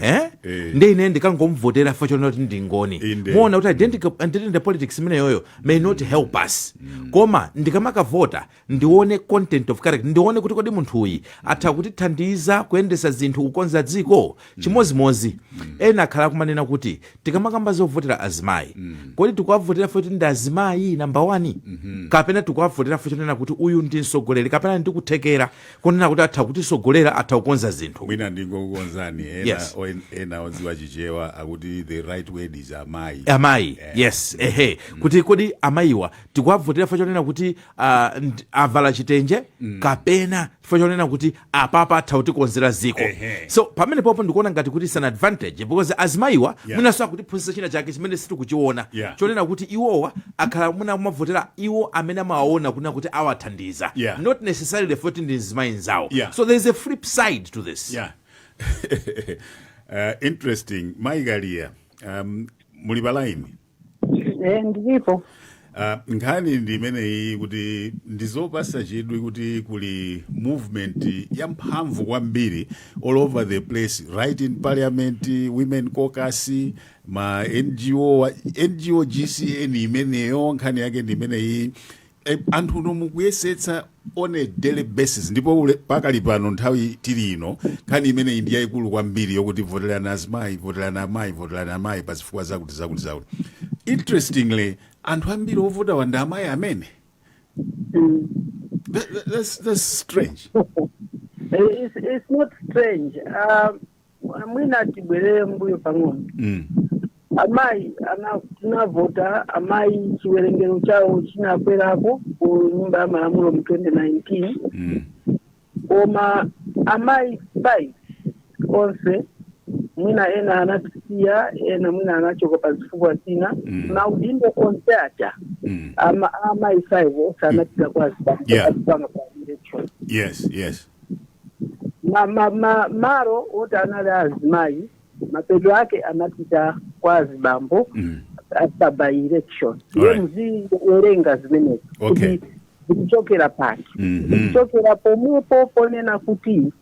eh? Eh. nde ine ndikangomvotera fukwa chonena kuti ndi mngoni Inde. muona kuti identical- identity politics imeneyoyo may not help us koma ndikamakavota ndione content of character ndione kuti kodi munthuyi atha kutithandiza kuyendesa zinthu kukonza dziko chimodzimodzi ena akhala kumanena kuti tikamakamba zovotera azimayi kodi tikuwavotera foti ndi azimayi namba 1 kapena tikuwavotera fo chonena kuti uyu ndi mtsogoleri kapena ali ndi kuthekera konena kuti atha kutisogolera atha kukonza zinthu mwina ndingokukonzani ena, Yes. o- ena odziwa chichewa akuti the right word is amayi amayi yes ehe kuti kodi amayiwa tikuwavotera fo chonena kuti ah, nd- avala chitenje kapena chifukwa chonena kuti apapa atha kutikonzera ziko Ehe. so pamene popo ndikuona ngati kuti it's an advantage because azimayiwa Yeah. mwinanso akutiphunzitsa china chake chimene sitikuchiona Yeah. chonena kuti iwowa akhala mwina kumavotera iwo amene amawaona kunena kuti awathandiza Yeah. not necessarily foti ndi mzimayi nzawo Yeah. so there is a flip side to this yeah uh, interesting mai Kaliya um, muli palaini Eh, ndilipo Uh, nkhani ndi imeneyi kuti ndizopasa chidwi kuti kuli movement yamphamvu kwambiri all over the place right in parliament women caucus ma NGO wa- NGO GCN imeneyo nkhani yake ndi imeneyi E, anthu inu mukuyesetsa on a daily basis ndipo ule pakali pano nthawi tili ino nkhani imeneyi ndi yayikulu kwambiri yokuti voterani azimayi voterani amayi voterani amayi pa zifukwa zakuti zakuti zakuti interestingly anthu ambiri ovotawa ndi amayi amene That- that- that's, that's strange It's, it's not strange. Um, mwina tibwere mbuyo pang'ono mm. amayi ana- tinavota amayi chiwerengero chawo chinakwerapo ku nyumba ya malamulo mu 2019 Mm. koma amayi 5 onse mwina ena anatisiya ena mwina anachoka pa zifukwa zina Mm. maudindo onse aja Mm. ama- amayi 5 onse anapita kwa Yeah. azipanga by election yes yes ma, ma, ma, malo oti anali a azimayi mapeto ake anapita kwa azibambo Mm. after by-election ndiye Alright. muziwerenga zimenezi Okay. kuti zikuchokera pati Mhm. zikuchokera pomwepo ponena kuti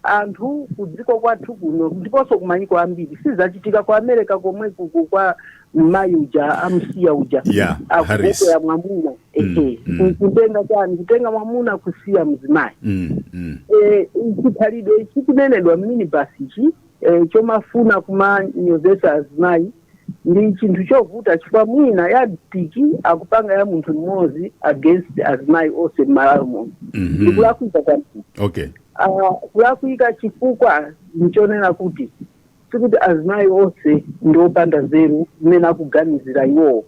anthu kudziko kwathu kuno ndiponso kumayiko ambiri sizachitika ku america komwe kuku kwa mayi uja amsiya uja Yeah, Harris. akukwera mwamuna Mm, ehe mm. kutenga chani kutenga mwamuna kusiya mzimayi Mm, mm. Eh, chikhalidwe ichi chikunenedwa mminibasi ichi eh, chomafuna kumanyozesa azimayi ndi chinthu chovuta chifukwa mwina ya tiki akupanga ya munthu mmodzi against azimayi onse mmalawi muno Mhm. ndikulakwika kwambiri Okay. Ah, kulakwika chifukwa ndichonena kuti Sikuti azimayi onse ndi opanda nzeru mmene akuganizira iwowo.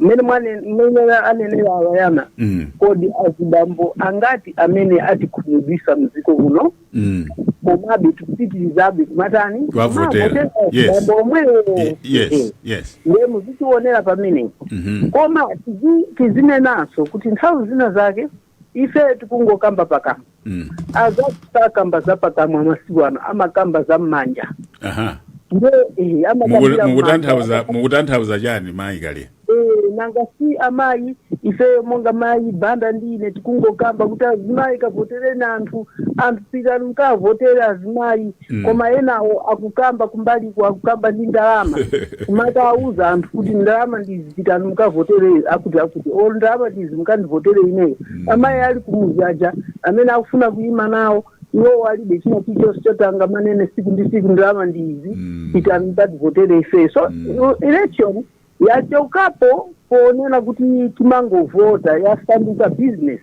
Mmene mwane- mmene anenera a Wayana, Mm. kodi azibambo angati amene atikhumudwisa mdziko muno Mm. komabe tikupitirizabe kumatani Kuwavotera. Kumavotera Yes. azibambo omwewo Ye- Yes. Yes. ndiye muzitionera pamenepo Mhm. koma tizi- tizinenanso kuti nthawi zina zake ife tikungokamba pakamwa Mm. azathu sakamba za pakamwa masiku ano amakamba za mmanja aha nde eh, Muku- amakambira mukutanthauza mmanja. mukutanthauza chani mayi Kaliya Eh, nanga si amayi ife monga mayi banda ndine tikungokamba kuti azimayi kavotereni anthu anthu pitani mukavotere azimayi Mm. koma enawo akukamba kumbaliku akukamba ndi ndalama kumata auza anthu kuti ndalama ndizi pitani mukavotere akuti akuti o ndalama ndizi mukandivotere ineyo amayi ali kumuzi aja amene akufuna kuyima nawo iwowo alibe china chichonse chotenga manene siku ndi siku ndalama ndizi Mm. pitani mukativotere ifeyo so Mm. election yachokapo ponena kuti timangovota yasanduka business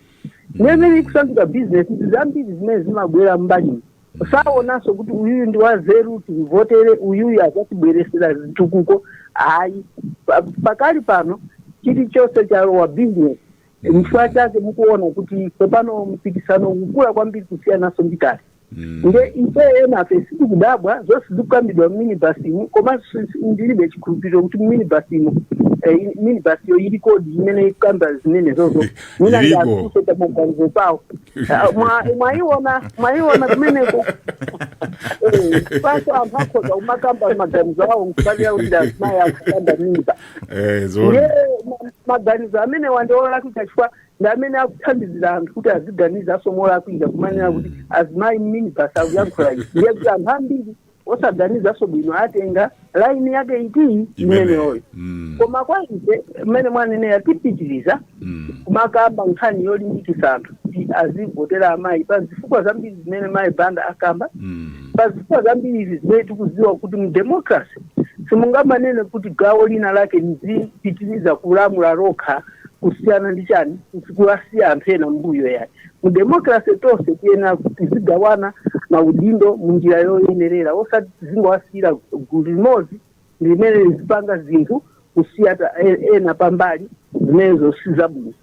ndiye mmene ikusanduka business zambiri zimene zimabwera mbali sawonanso kuti uyuyu ndi wanzeru timvotere uyuyu azatibweresera zitukuko ayi Pa- pakali pano chilichonse chalowa business nchifukwa chake mukuona kuti tsopano mpikisano ukukula kwambiri kusiyananso ndi kale nde ife enafe sitikudabwa zonse zikukambidwa mminibasimu komanso si- ndilibe chikhulupiriro kuti mminibasimu minibasiyo ilikodi imene ikukamba zimenezozo mwina Ilipo. ndiafunse pa maganizo awo Ah, mwa- mwayiona mwayiona kumeneko Eh, paso anthu akhoza kumakamba maganizo awo mkati yawo ndi azimayi akukamba mimba Eh, zona ndiye ma- maganizo amenewa ndi olakwika chifukwa ndi amene akuthandizira anthu kuti aziganiza nawonso molakwika kumanena kuti azimayi mminibasi akuyankhula izi ndiye kuti anthu ambiri osaganizanso bwino atenga laini yake iti Imene. imeneyoyo Mm. koma kwa ife mmene mwanenera tipitiriza Mm. kumakamba nkhani yolimbikitsa anthu kuti azivotera amayi pa zifukwa zambiri zimene mayi banda akamba Mm. pa zifukwa zambiri izi zimene tikuziwa kuti mu democracy simungamanene kuti gawo lina lake lizipitiriza kulamula lokha kusiyana ndi chani kuwasiya anthu ena mbuyo yake mu democracy tonse tiyenera kuti tizigawana maudindo mu njira yoyenerera osati tizingowasiyira gulu limodzi ndi limene lizipanga zinthu kusiya ta- e- ena pambali zimenezo si zabwino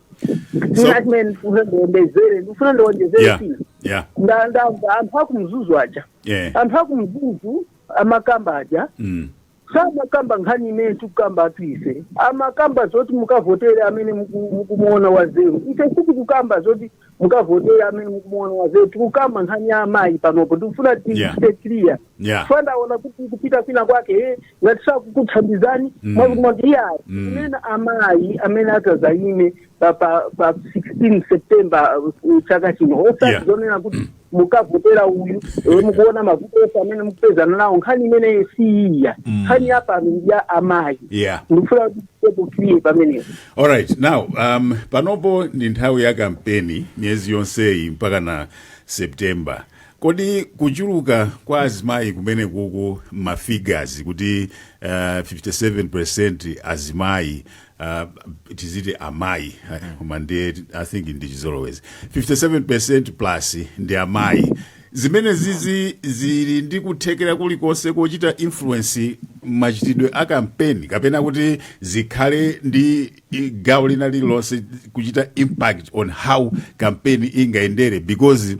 china chimene ndifuna ndiwonjezere ndifuna ndiwonjezere yeah china yeah Nda- ndamva anthu akumzuzu aja yeah anthu akumzuzu amakamba aja mm. Samakamba nkhani imene tikukambatu ife. Amakamba zoti mukavotere amene muku- mukumuona wazeru. Ife sitikukamba zoti mukavotere amene mukumuona wazeru. Tikukamba nkhani ya amayi panopo. Tikufuna ti- Yeah. tibe clear. Yeah. Chifukwa ndaona kuti kupita kwina kwake eh, ngati sakukuthandizani Mm. mwakuti iyayi Mm. kunena amayi amene atazayime pa pa pa 16 September uh, chaka chino osati Yeah. zonena kuti mukavotera uyu eh, mukuona mavuto onse amene mukupezana nawo nkhani imeneyi si iyayi nkhani ya pano ndi ya amayi Yeah. ndikufuna kuti tibe clear pamenepo All right. Now, um, panopo ndi nthawi ya kampeni miyezi yonseyi mpaka na September. Kodi kuchuluka kwa azimayi kumene kuku mafigures kuti uh, 57% azimayi uh, tiziti amayi uh, koma ndiye i think ndi chizolowezi 57% plus ndi amayi zimene zizi zili ndi kuthekera kulikonse kochita influence machitidwe a kampeni kapena kuti zikhale ndi i- gawo lina lililonse kuchita impact on how kampeni ingayendere because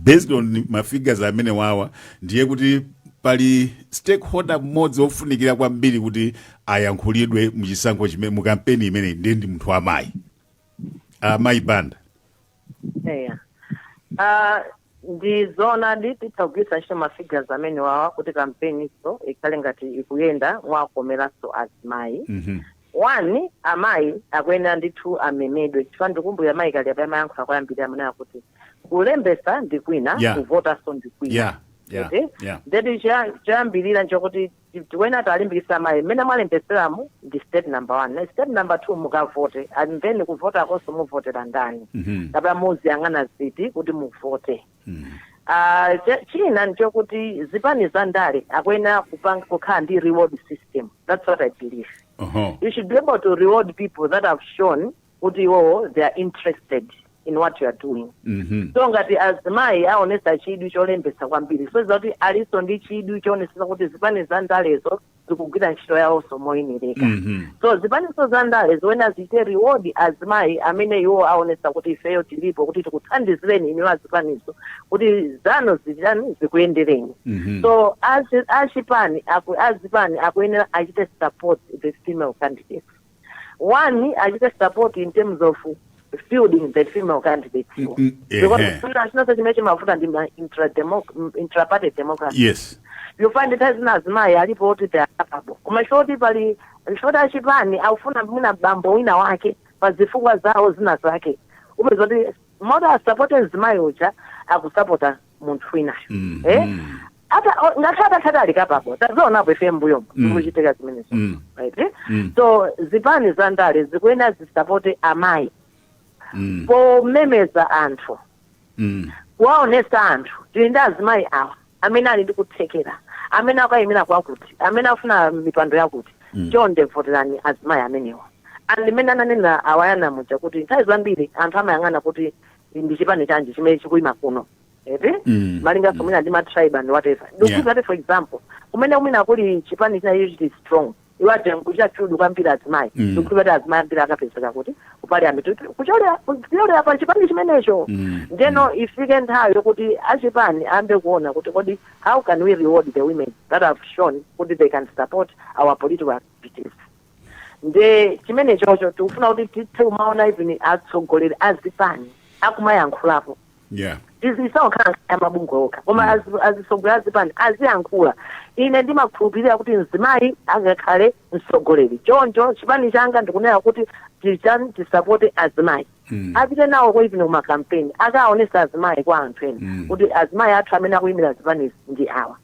based on ma figures amene wawa ndiye kuti pali stakeholder mmodzi wofunikira kwambiri kuti ayankhulidwe muchisankho chimene mu kampeni imeneyi ndiye ndi munthu wamayi amayi Banda eya Ah, ndi zoonadi titha kugwiritsa ntchito mafigures amene wawa kuti kampeniso ikhale ngati ikuyenda mwakomeranso azimayi Mhm. 1, amayi akuyenera ndithu amemedwe chifukwa ndikumbukira mayi kaliati amayankhula koyambirira amanena kuti kulembetsa ndi kwina yeah. kuvotanso ndi kwina yeah. Yeah. Okay? Yeah. ndeti choyambirira nchokuti tikuyenera tiwalimbikitse amayi mmene mwalembetseramu ndi step number one ndiye step number two mukavote and then kuvotakonso muvotera ndani mm -hmm. kapena muziyang'ana ziti kuti muvote mm. uh, china ndichokuti zipani za ndale akuyenera kukhala ndi reward system that's what i believe uh -huh. you should be able to reward people that have shown kuti iwowo they are interested in what you are doing mm -hmm. so ngati azimayi aonesa chidwi cholembesa kwambiri zosonyeza kuti aliso ndi chidwi choonesesa kuti zipani za ndalezo zikugwira ntchito yawonso moyenereka Mhm. so zipaniso za ndale zikuyenera zichite reward azimayi amene iwo aonesa kuti ifeyo tilipo kuti tikuthandizireni inuyo azipaniso kuti zanu zichitani zikuyendereni Mhm. so azi- achipani aku- azipani akuyenera achite support the female candidates one achite support in terms of fielding the female candidates Mm, mm, because ehe. china chinonse chimene chimavuta ndi ma intrademoc- m- intraparty democracy yes you find nthawi zina azimayi alipo oti they are capable koma poti pali poti achipani akufuna mwina bambo wina wake pa zifukwa zawo zina zake upeza kuti m'malo moti asapote mzimayi uja akusapota munthu winayo Mm, eh? mm. ata o- ngakhale atakhala kuti ali capable tazionapo ife mbuyomo Mm. zikuchitika zimenezo Mm. right eh? Mm. so zipani za ndale zikuyenera zisapote amayi Mm. pomemeza anthu Mm. kuwaonesa anthu tili ndi azimayi awa amene ali ndi kuthekera amene akuyimira kwakuti amene afuna mipando yakuti Mm. chonde voterani azimayi amenewa and mmene ananena awayana muja kuti nthawi zambiri anthu amayang'ana kuti ndi chipani chanji chimene chikuyima kuno eti mm. malinganso mm. mwina ndi matribe and whatever ndi kuti yeah. for example kumene mwina kuli chipani china chili strong iwo aja nkuchita chidwi kwambiri azimayi mm. ndikuti kuti azimayi ambiri akapezeka kuti kupali ambiri kuchokera pa chipani chimenecho mm. ndeno mm. ifike nthawi yokuti achipani ayambe kuona kuti kodi how can we reward the women that have shown kuti they can support our political activities nde chimenechocho tikufuna kuti tithe kumaona even atsogoleri a zipani akumayankhulapo yeah izi isawakhala amabungwe okha koma mm. azi- azitsogoleri a zipani aziyankhula ine ndimakhulupirira kuti mzimayi angakhale mtsogoleri choncho chipani changa ndikunena kuti tichani tisapote azimayi Mm. apite nawo even kumakampeni akaonesa azimayi kwa anthu ena Mm. kuti azimayi athu amene akuyimira zipani ndi awa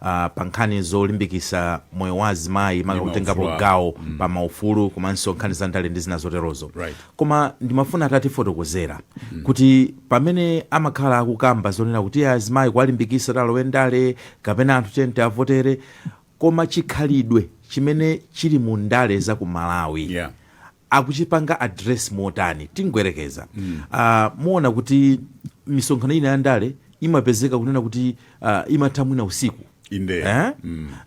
a pa nkhani zolimbikisa moyo wa azimayi maka kutengapo gawo pa maufulu komanso nkhani za ndale ndi zina zoterozo koma ndimafuna atatifotokozera kuti pamene amakhala akukamba zonena kuti azimayi kuwalimbikisa kuti alowe ndale kapena anthu tiyeni tiwavotere koma chikhalidwe chimene chili mu ndale za ku malawi Yeah. akuchipanga address motani tingoyerekeza Ah, muona kuti misonkhano ina ya ndale imapezeka kunena kuti ah, imatha mwina usiku Inde. eh?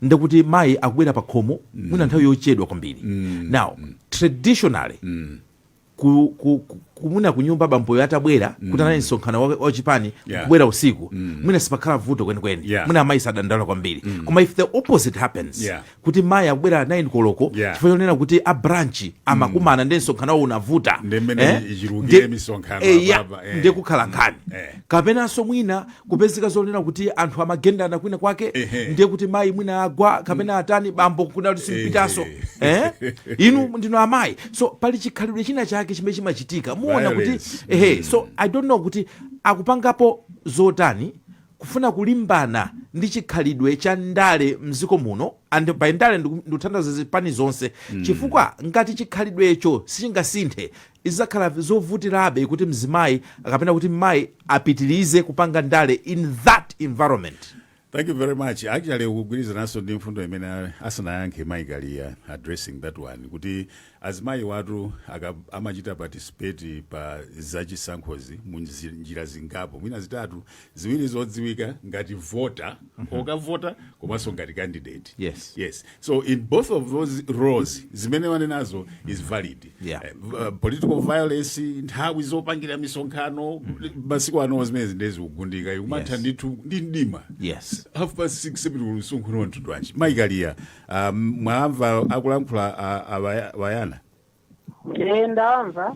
ndekuti mayi akubwera pa khomo mwina nthawi yochedwa kwambiri now traditionally ku, ku, ku, kumuna kunyumba bamboyo atabwera kuti anali msonkhano wa- wachipani Yeah. kubwera usiku mwina sipakhala vuto kwenikweni Yeah. mwina amayi sadandaula kwambiri koma if the opposite happens Yeah. kuti mayi akubwera 9 koloko Yeah. chifukwa chonena kuti a branch amakumana ndi msonkhano wawo unavuta Ndi mmene ichulukire Ndi- misonkhano eh, ya, apapa, eh. ndiye kukhala nkhani Eh. kapenanso mwina kupezeka zonena kuti anthu amagendana kwina kwake Ehe. ndiye kuti mayi mwina agwa kapena atani bambo kunena kuti simpitaso eh? inu ndinu amayi so pali chikhalidwe china chake chimene chimachitika muona kuti Violence. ehe so i don't know kuti akupangapo zotani kufuna kulimbana ndi chikhalidwe cha ndale mziko muno and by ndale ndikutanthauza zipani zonse mm. chifukwa ngati chikhalidwecho sichingasinthe izakhala zovutirabe kuti mzimayi akapena kuti mmayi apitirize kupanga ndale in that environment thank you very much actually zikugwirizananso ndi mfundo imene asanayankhe mayi kaliya addressing that one kuti Azimayiwatu aka amachita participate pa za chisankhozi mu njira zingapo mwina zitatu, ziwiri zodziwika ngati voter, okavota komanso ngati candidate. Yes. Yes. So in both of those roles zimene wanenazo is valid. Yeah. Eh, v- uh, political violence nthawi zopangira misonkhano masiku ano zimenezi ndiye zikugundika ikumatha Yes. ndithu ndi mdima Yes. half past six seven uli msonkhano wa mtundu wanji mayi Kaliya Ah, m- mwawamva akulankhula ah, ah, Baya- bayana Eh, ndawamva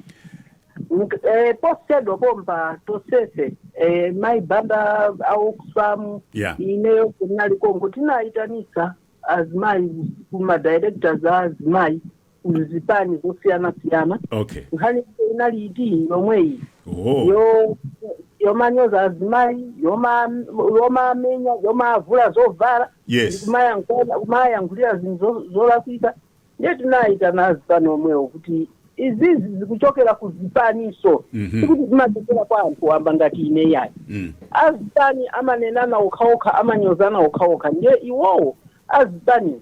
Nik- eh, posachedwa pompa tonsefe eh, mayi Banda a Oxfam Yeah. ineyo ndinali konko tinaitanisa azimayi ma directors a azimayi kuzipani zosiyanasiyana okay nkhani yake inali iti yomweyi oh yo yomanyoza azimayi yoma yomamenya yomavula zovala Yes. kumayankhula- kumayankhulira zinthu zo- zolakwika ndiye tinayitana azipani omwewo kuti izizi zikuchokera ku zipaniso Mhm. sikuti zimachokera kwa anthu wamba ngati ine yayi mm. azipani amanenana okhaokha amanyozana okhaokha ndiye iwowo azipani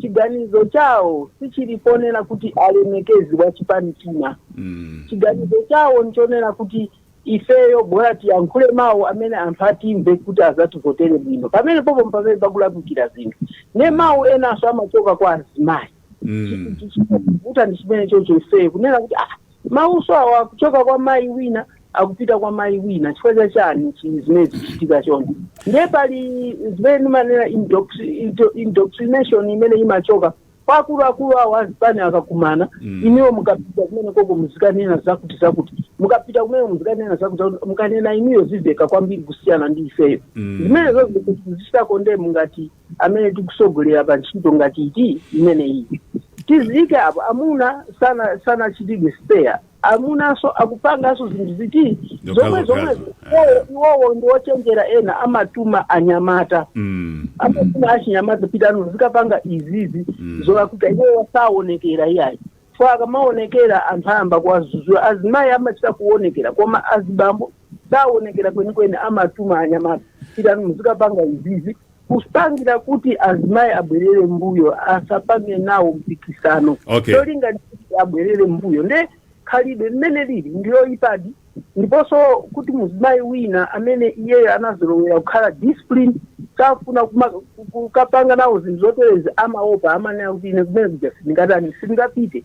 chiganizo chawo sichili ponena kuti alemekezi wa chipani china chiganizo chawo nchonena kuti ifeyo bola tiyankhule mawu amene anthu atimve kuti azativotere bwino pamene popo ndi pamene pakulakwikira zinthu ne mawu enanso amachoka kwa azimayi chikuvuta ndi chimene chocho ifeyo kunena kuti ah Mawuso awo akuchoka kwa mayi wina akupita kwa mayi wina chifukwa cha chani chi- zimene zikuchitika choncho ndiye pali zimene ndimanena indoctri- indo- indoctrination imene imachoka kwa akuluakulu awo azipani akakumana inuyo mukapita kumene koko muzikanena zakuti zakuti mukapita kumene muzikanena zakuti zakuti mukanena inuyo ziveka kwambiri kusiyana ndi ifeyo zimenezo zozichita condemn ngati amene tikusogolera pa ntchito ngati iti imeneyi tiziyike apo amuna sana sanachitidwe spared amunanso akupanganso zinthu ziti zomwezomwe iwowo ndi ochenjera ena amatuma anyamata mm. amatuma achinyamata pitani muzikapanga izizi mm. zoona kuti iwowo saonekera iyayi chifukwa akamaonekera anthu ayamba kuwazuzula azimayi amachita kuonekera koma azibambo saonekera kwenikweni amatuma anyamata pitani muzikapanga izizi kupangira kuti azimayi abwerere mbuyo asapange nawo mpikisano Okay. cholinga ndi kuti abwerere mbuyo nde khalidwe limene lili ndi loyipadi ndiponso kuti muzimayi wina amene iyeyo anazolowera kukhala disciplined safuna kuma- ku- kukapanga nawo zinthu zoterezi amaopa amanena kuti ine kumene kuja sindingatani sindingapite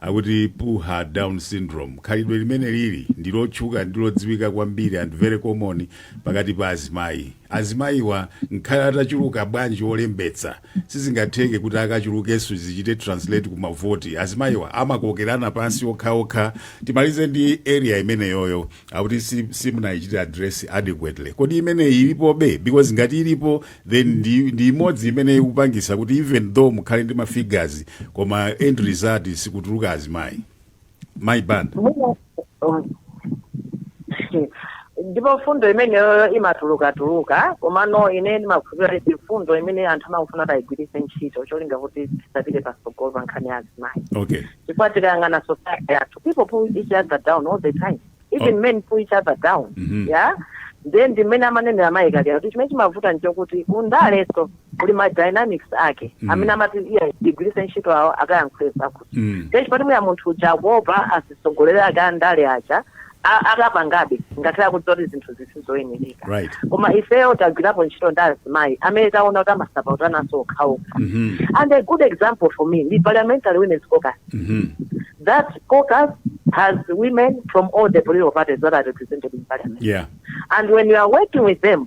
Akuti pull her down syndrome khalidwe limene lili ndi lotchuka ndi lodziwika kwambiri and very common pakati pa azimayi. Azimayiwa ngakhale atachuluka bwanji olembetsa sizingatheke kuti akachulukenso zichite translate ku mavoti. Azimayiwa amakokerana pansi okhaokha. Timalize ndi area imeneyoyo. akuti si- simunayichite address adequately kodi imeneyi ilipobe because ngati ilipo then ndi, ndi imodzi imene ikupangisa kuti even though mukhale ndi mafigures koma end result sikutuluka azimayi Mayi Banda Mwina- um, ndipo mfundo imeneyo imatulukatuluka komano ine ndimakhulupirira kuti ndi mfundo imene anthu amafuna kuti ayigwiritse ntchito cholinga kuti tisapite patsogolo pa nkhani ya azimayi okay chifukwa tikayang'ana society yathu people pull each other down all the time even Oh. men pull each other down Mhm. ya then ndi mmene amanenera mayi kaliya kuti chimene chimavuta nchokuti kundaleso kuli ma dynamics ake Mhm. amene amati iye tigwiritse ntchito awo akayankhule zakuti Mm. then chipati muya munthu uja akuopa azitsogoleri ake andale aja a- akapangabe ngakhale akudziwa kuti zinthuzi sizoyenereka Right. koma ifeyo tagwirapo ntchito ndi azimayi amene taona kuti amasapotanaso okhaokha Mhm. and a good example for me ndi parliamentary women's caucus Mhm. that caucus has women from all the political parties that are represented in parliament Yeah. and when you are working with them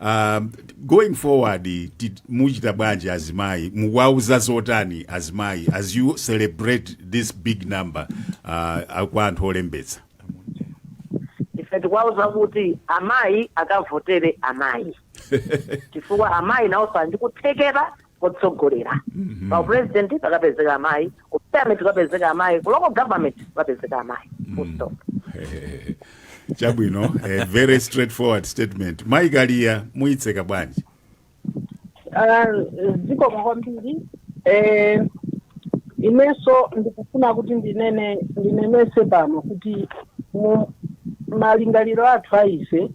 Uh, going forward ti- muchita bwanji azimayi muwauza zotani azimayi as you celebrate this big number uh, kwa anthu olembetsa ife tikuwauza kuti amayi akavotere amayi chifukwa amayi nawoso ali ndi kuthekera kotsogolera Mhm. pa upresident pakapezeka amayi ku parliament kukapezeka amayi ku local government kukapezeka amayi full stop Eh, chabwino eh, very straightforward statement mayi kaliya muyitseka bwanji Ah, zikomo kwambiri eh, inenso ndikufuna kuti ndinene ndinenese pano kuti mu malingaliro athu a ife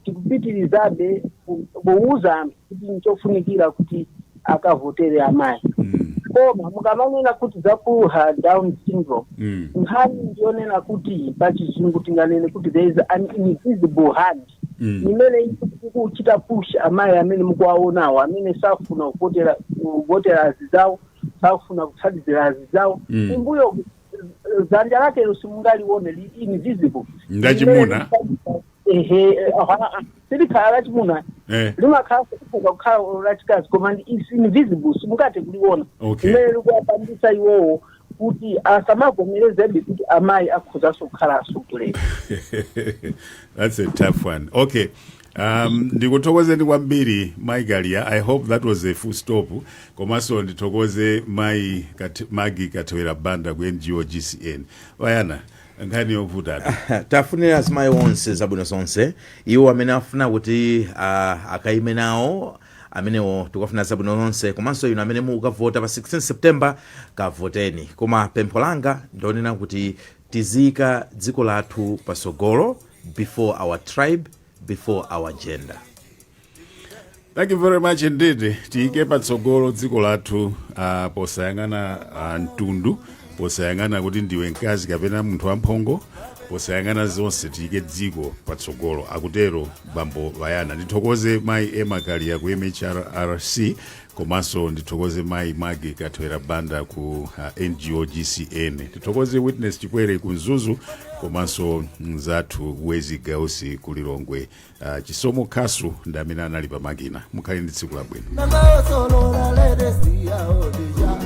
tikupitirizabe ku- kuwuza anthu kuti nchofunikira kuti akavotere amayi Mm. koma mukamanena kuti za pull her down syndrome Mm. nkhani ndiyonena kuti pa chizungu tinganene kuti there is an invisible hand Mm. imene ikuchita push amayi amene mukuwaonawo amene safuna kuvotera kuvotera azizawo safuna kuthandizira azizawo Mm. kumbuyo dzanja lakelo simungalione li invisible Ngachimuna? ehe aha, silikhala lachimuna Eh. limakhala kufuka kukhala lachikazi koma ndi- is invisible simungate kuliona Okay. imene likuwapangisa iwowo kuti asamavomerezebe kuti amayi akhozanso kukhala atsogoleri That's a tough one. Okay. Um, ndikuthokozeni kwambiri mai kaliya i hope that was a full stop komanso ndithokoze mai Kat, maggie kathewera banda ku ngo gcn bayana nkhani yovuta ati tafunira azimayi onse zabwino zonse iwo amene afuna kuti uh, akaime nawo amenewo tikufuna zabwino zonse komanso inu amene mukavota pa 16 september kavoteni koma pempho langa ndionena kuti tiziyika dziko lathu pasogolo before our tribe before our gender thank you very much indeed tiyike patsogolo dziko lathu uh, posayang'ana uh, mtundu posayang'ana kuti ndiwe mkazi kapena munthu wamphongo posayang'ana zonse tiyike dziko patsogolo akutero bambo bayana ndithokoze mayi emma kaliya ku mhrrc Komanso ndithokoze mayi Maggie Kathwera Banda ku uh, NGO GCN. Ndithokoze Witness Chikwere ku Mzuzu komanso mzathu Wezi Gausi ku Lilongwe. Uh, Chisomo Khasu ndi amene anali pa makina. Mukhale ndi tsiku labwino. Namayosolora ledesi yawo deja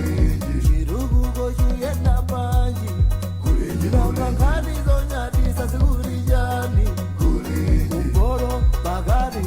Chiruguko chuyenda panji Nanga nkhani zonyadisa zikulijani Kumboro bagari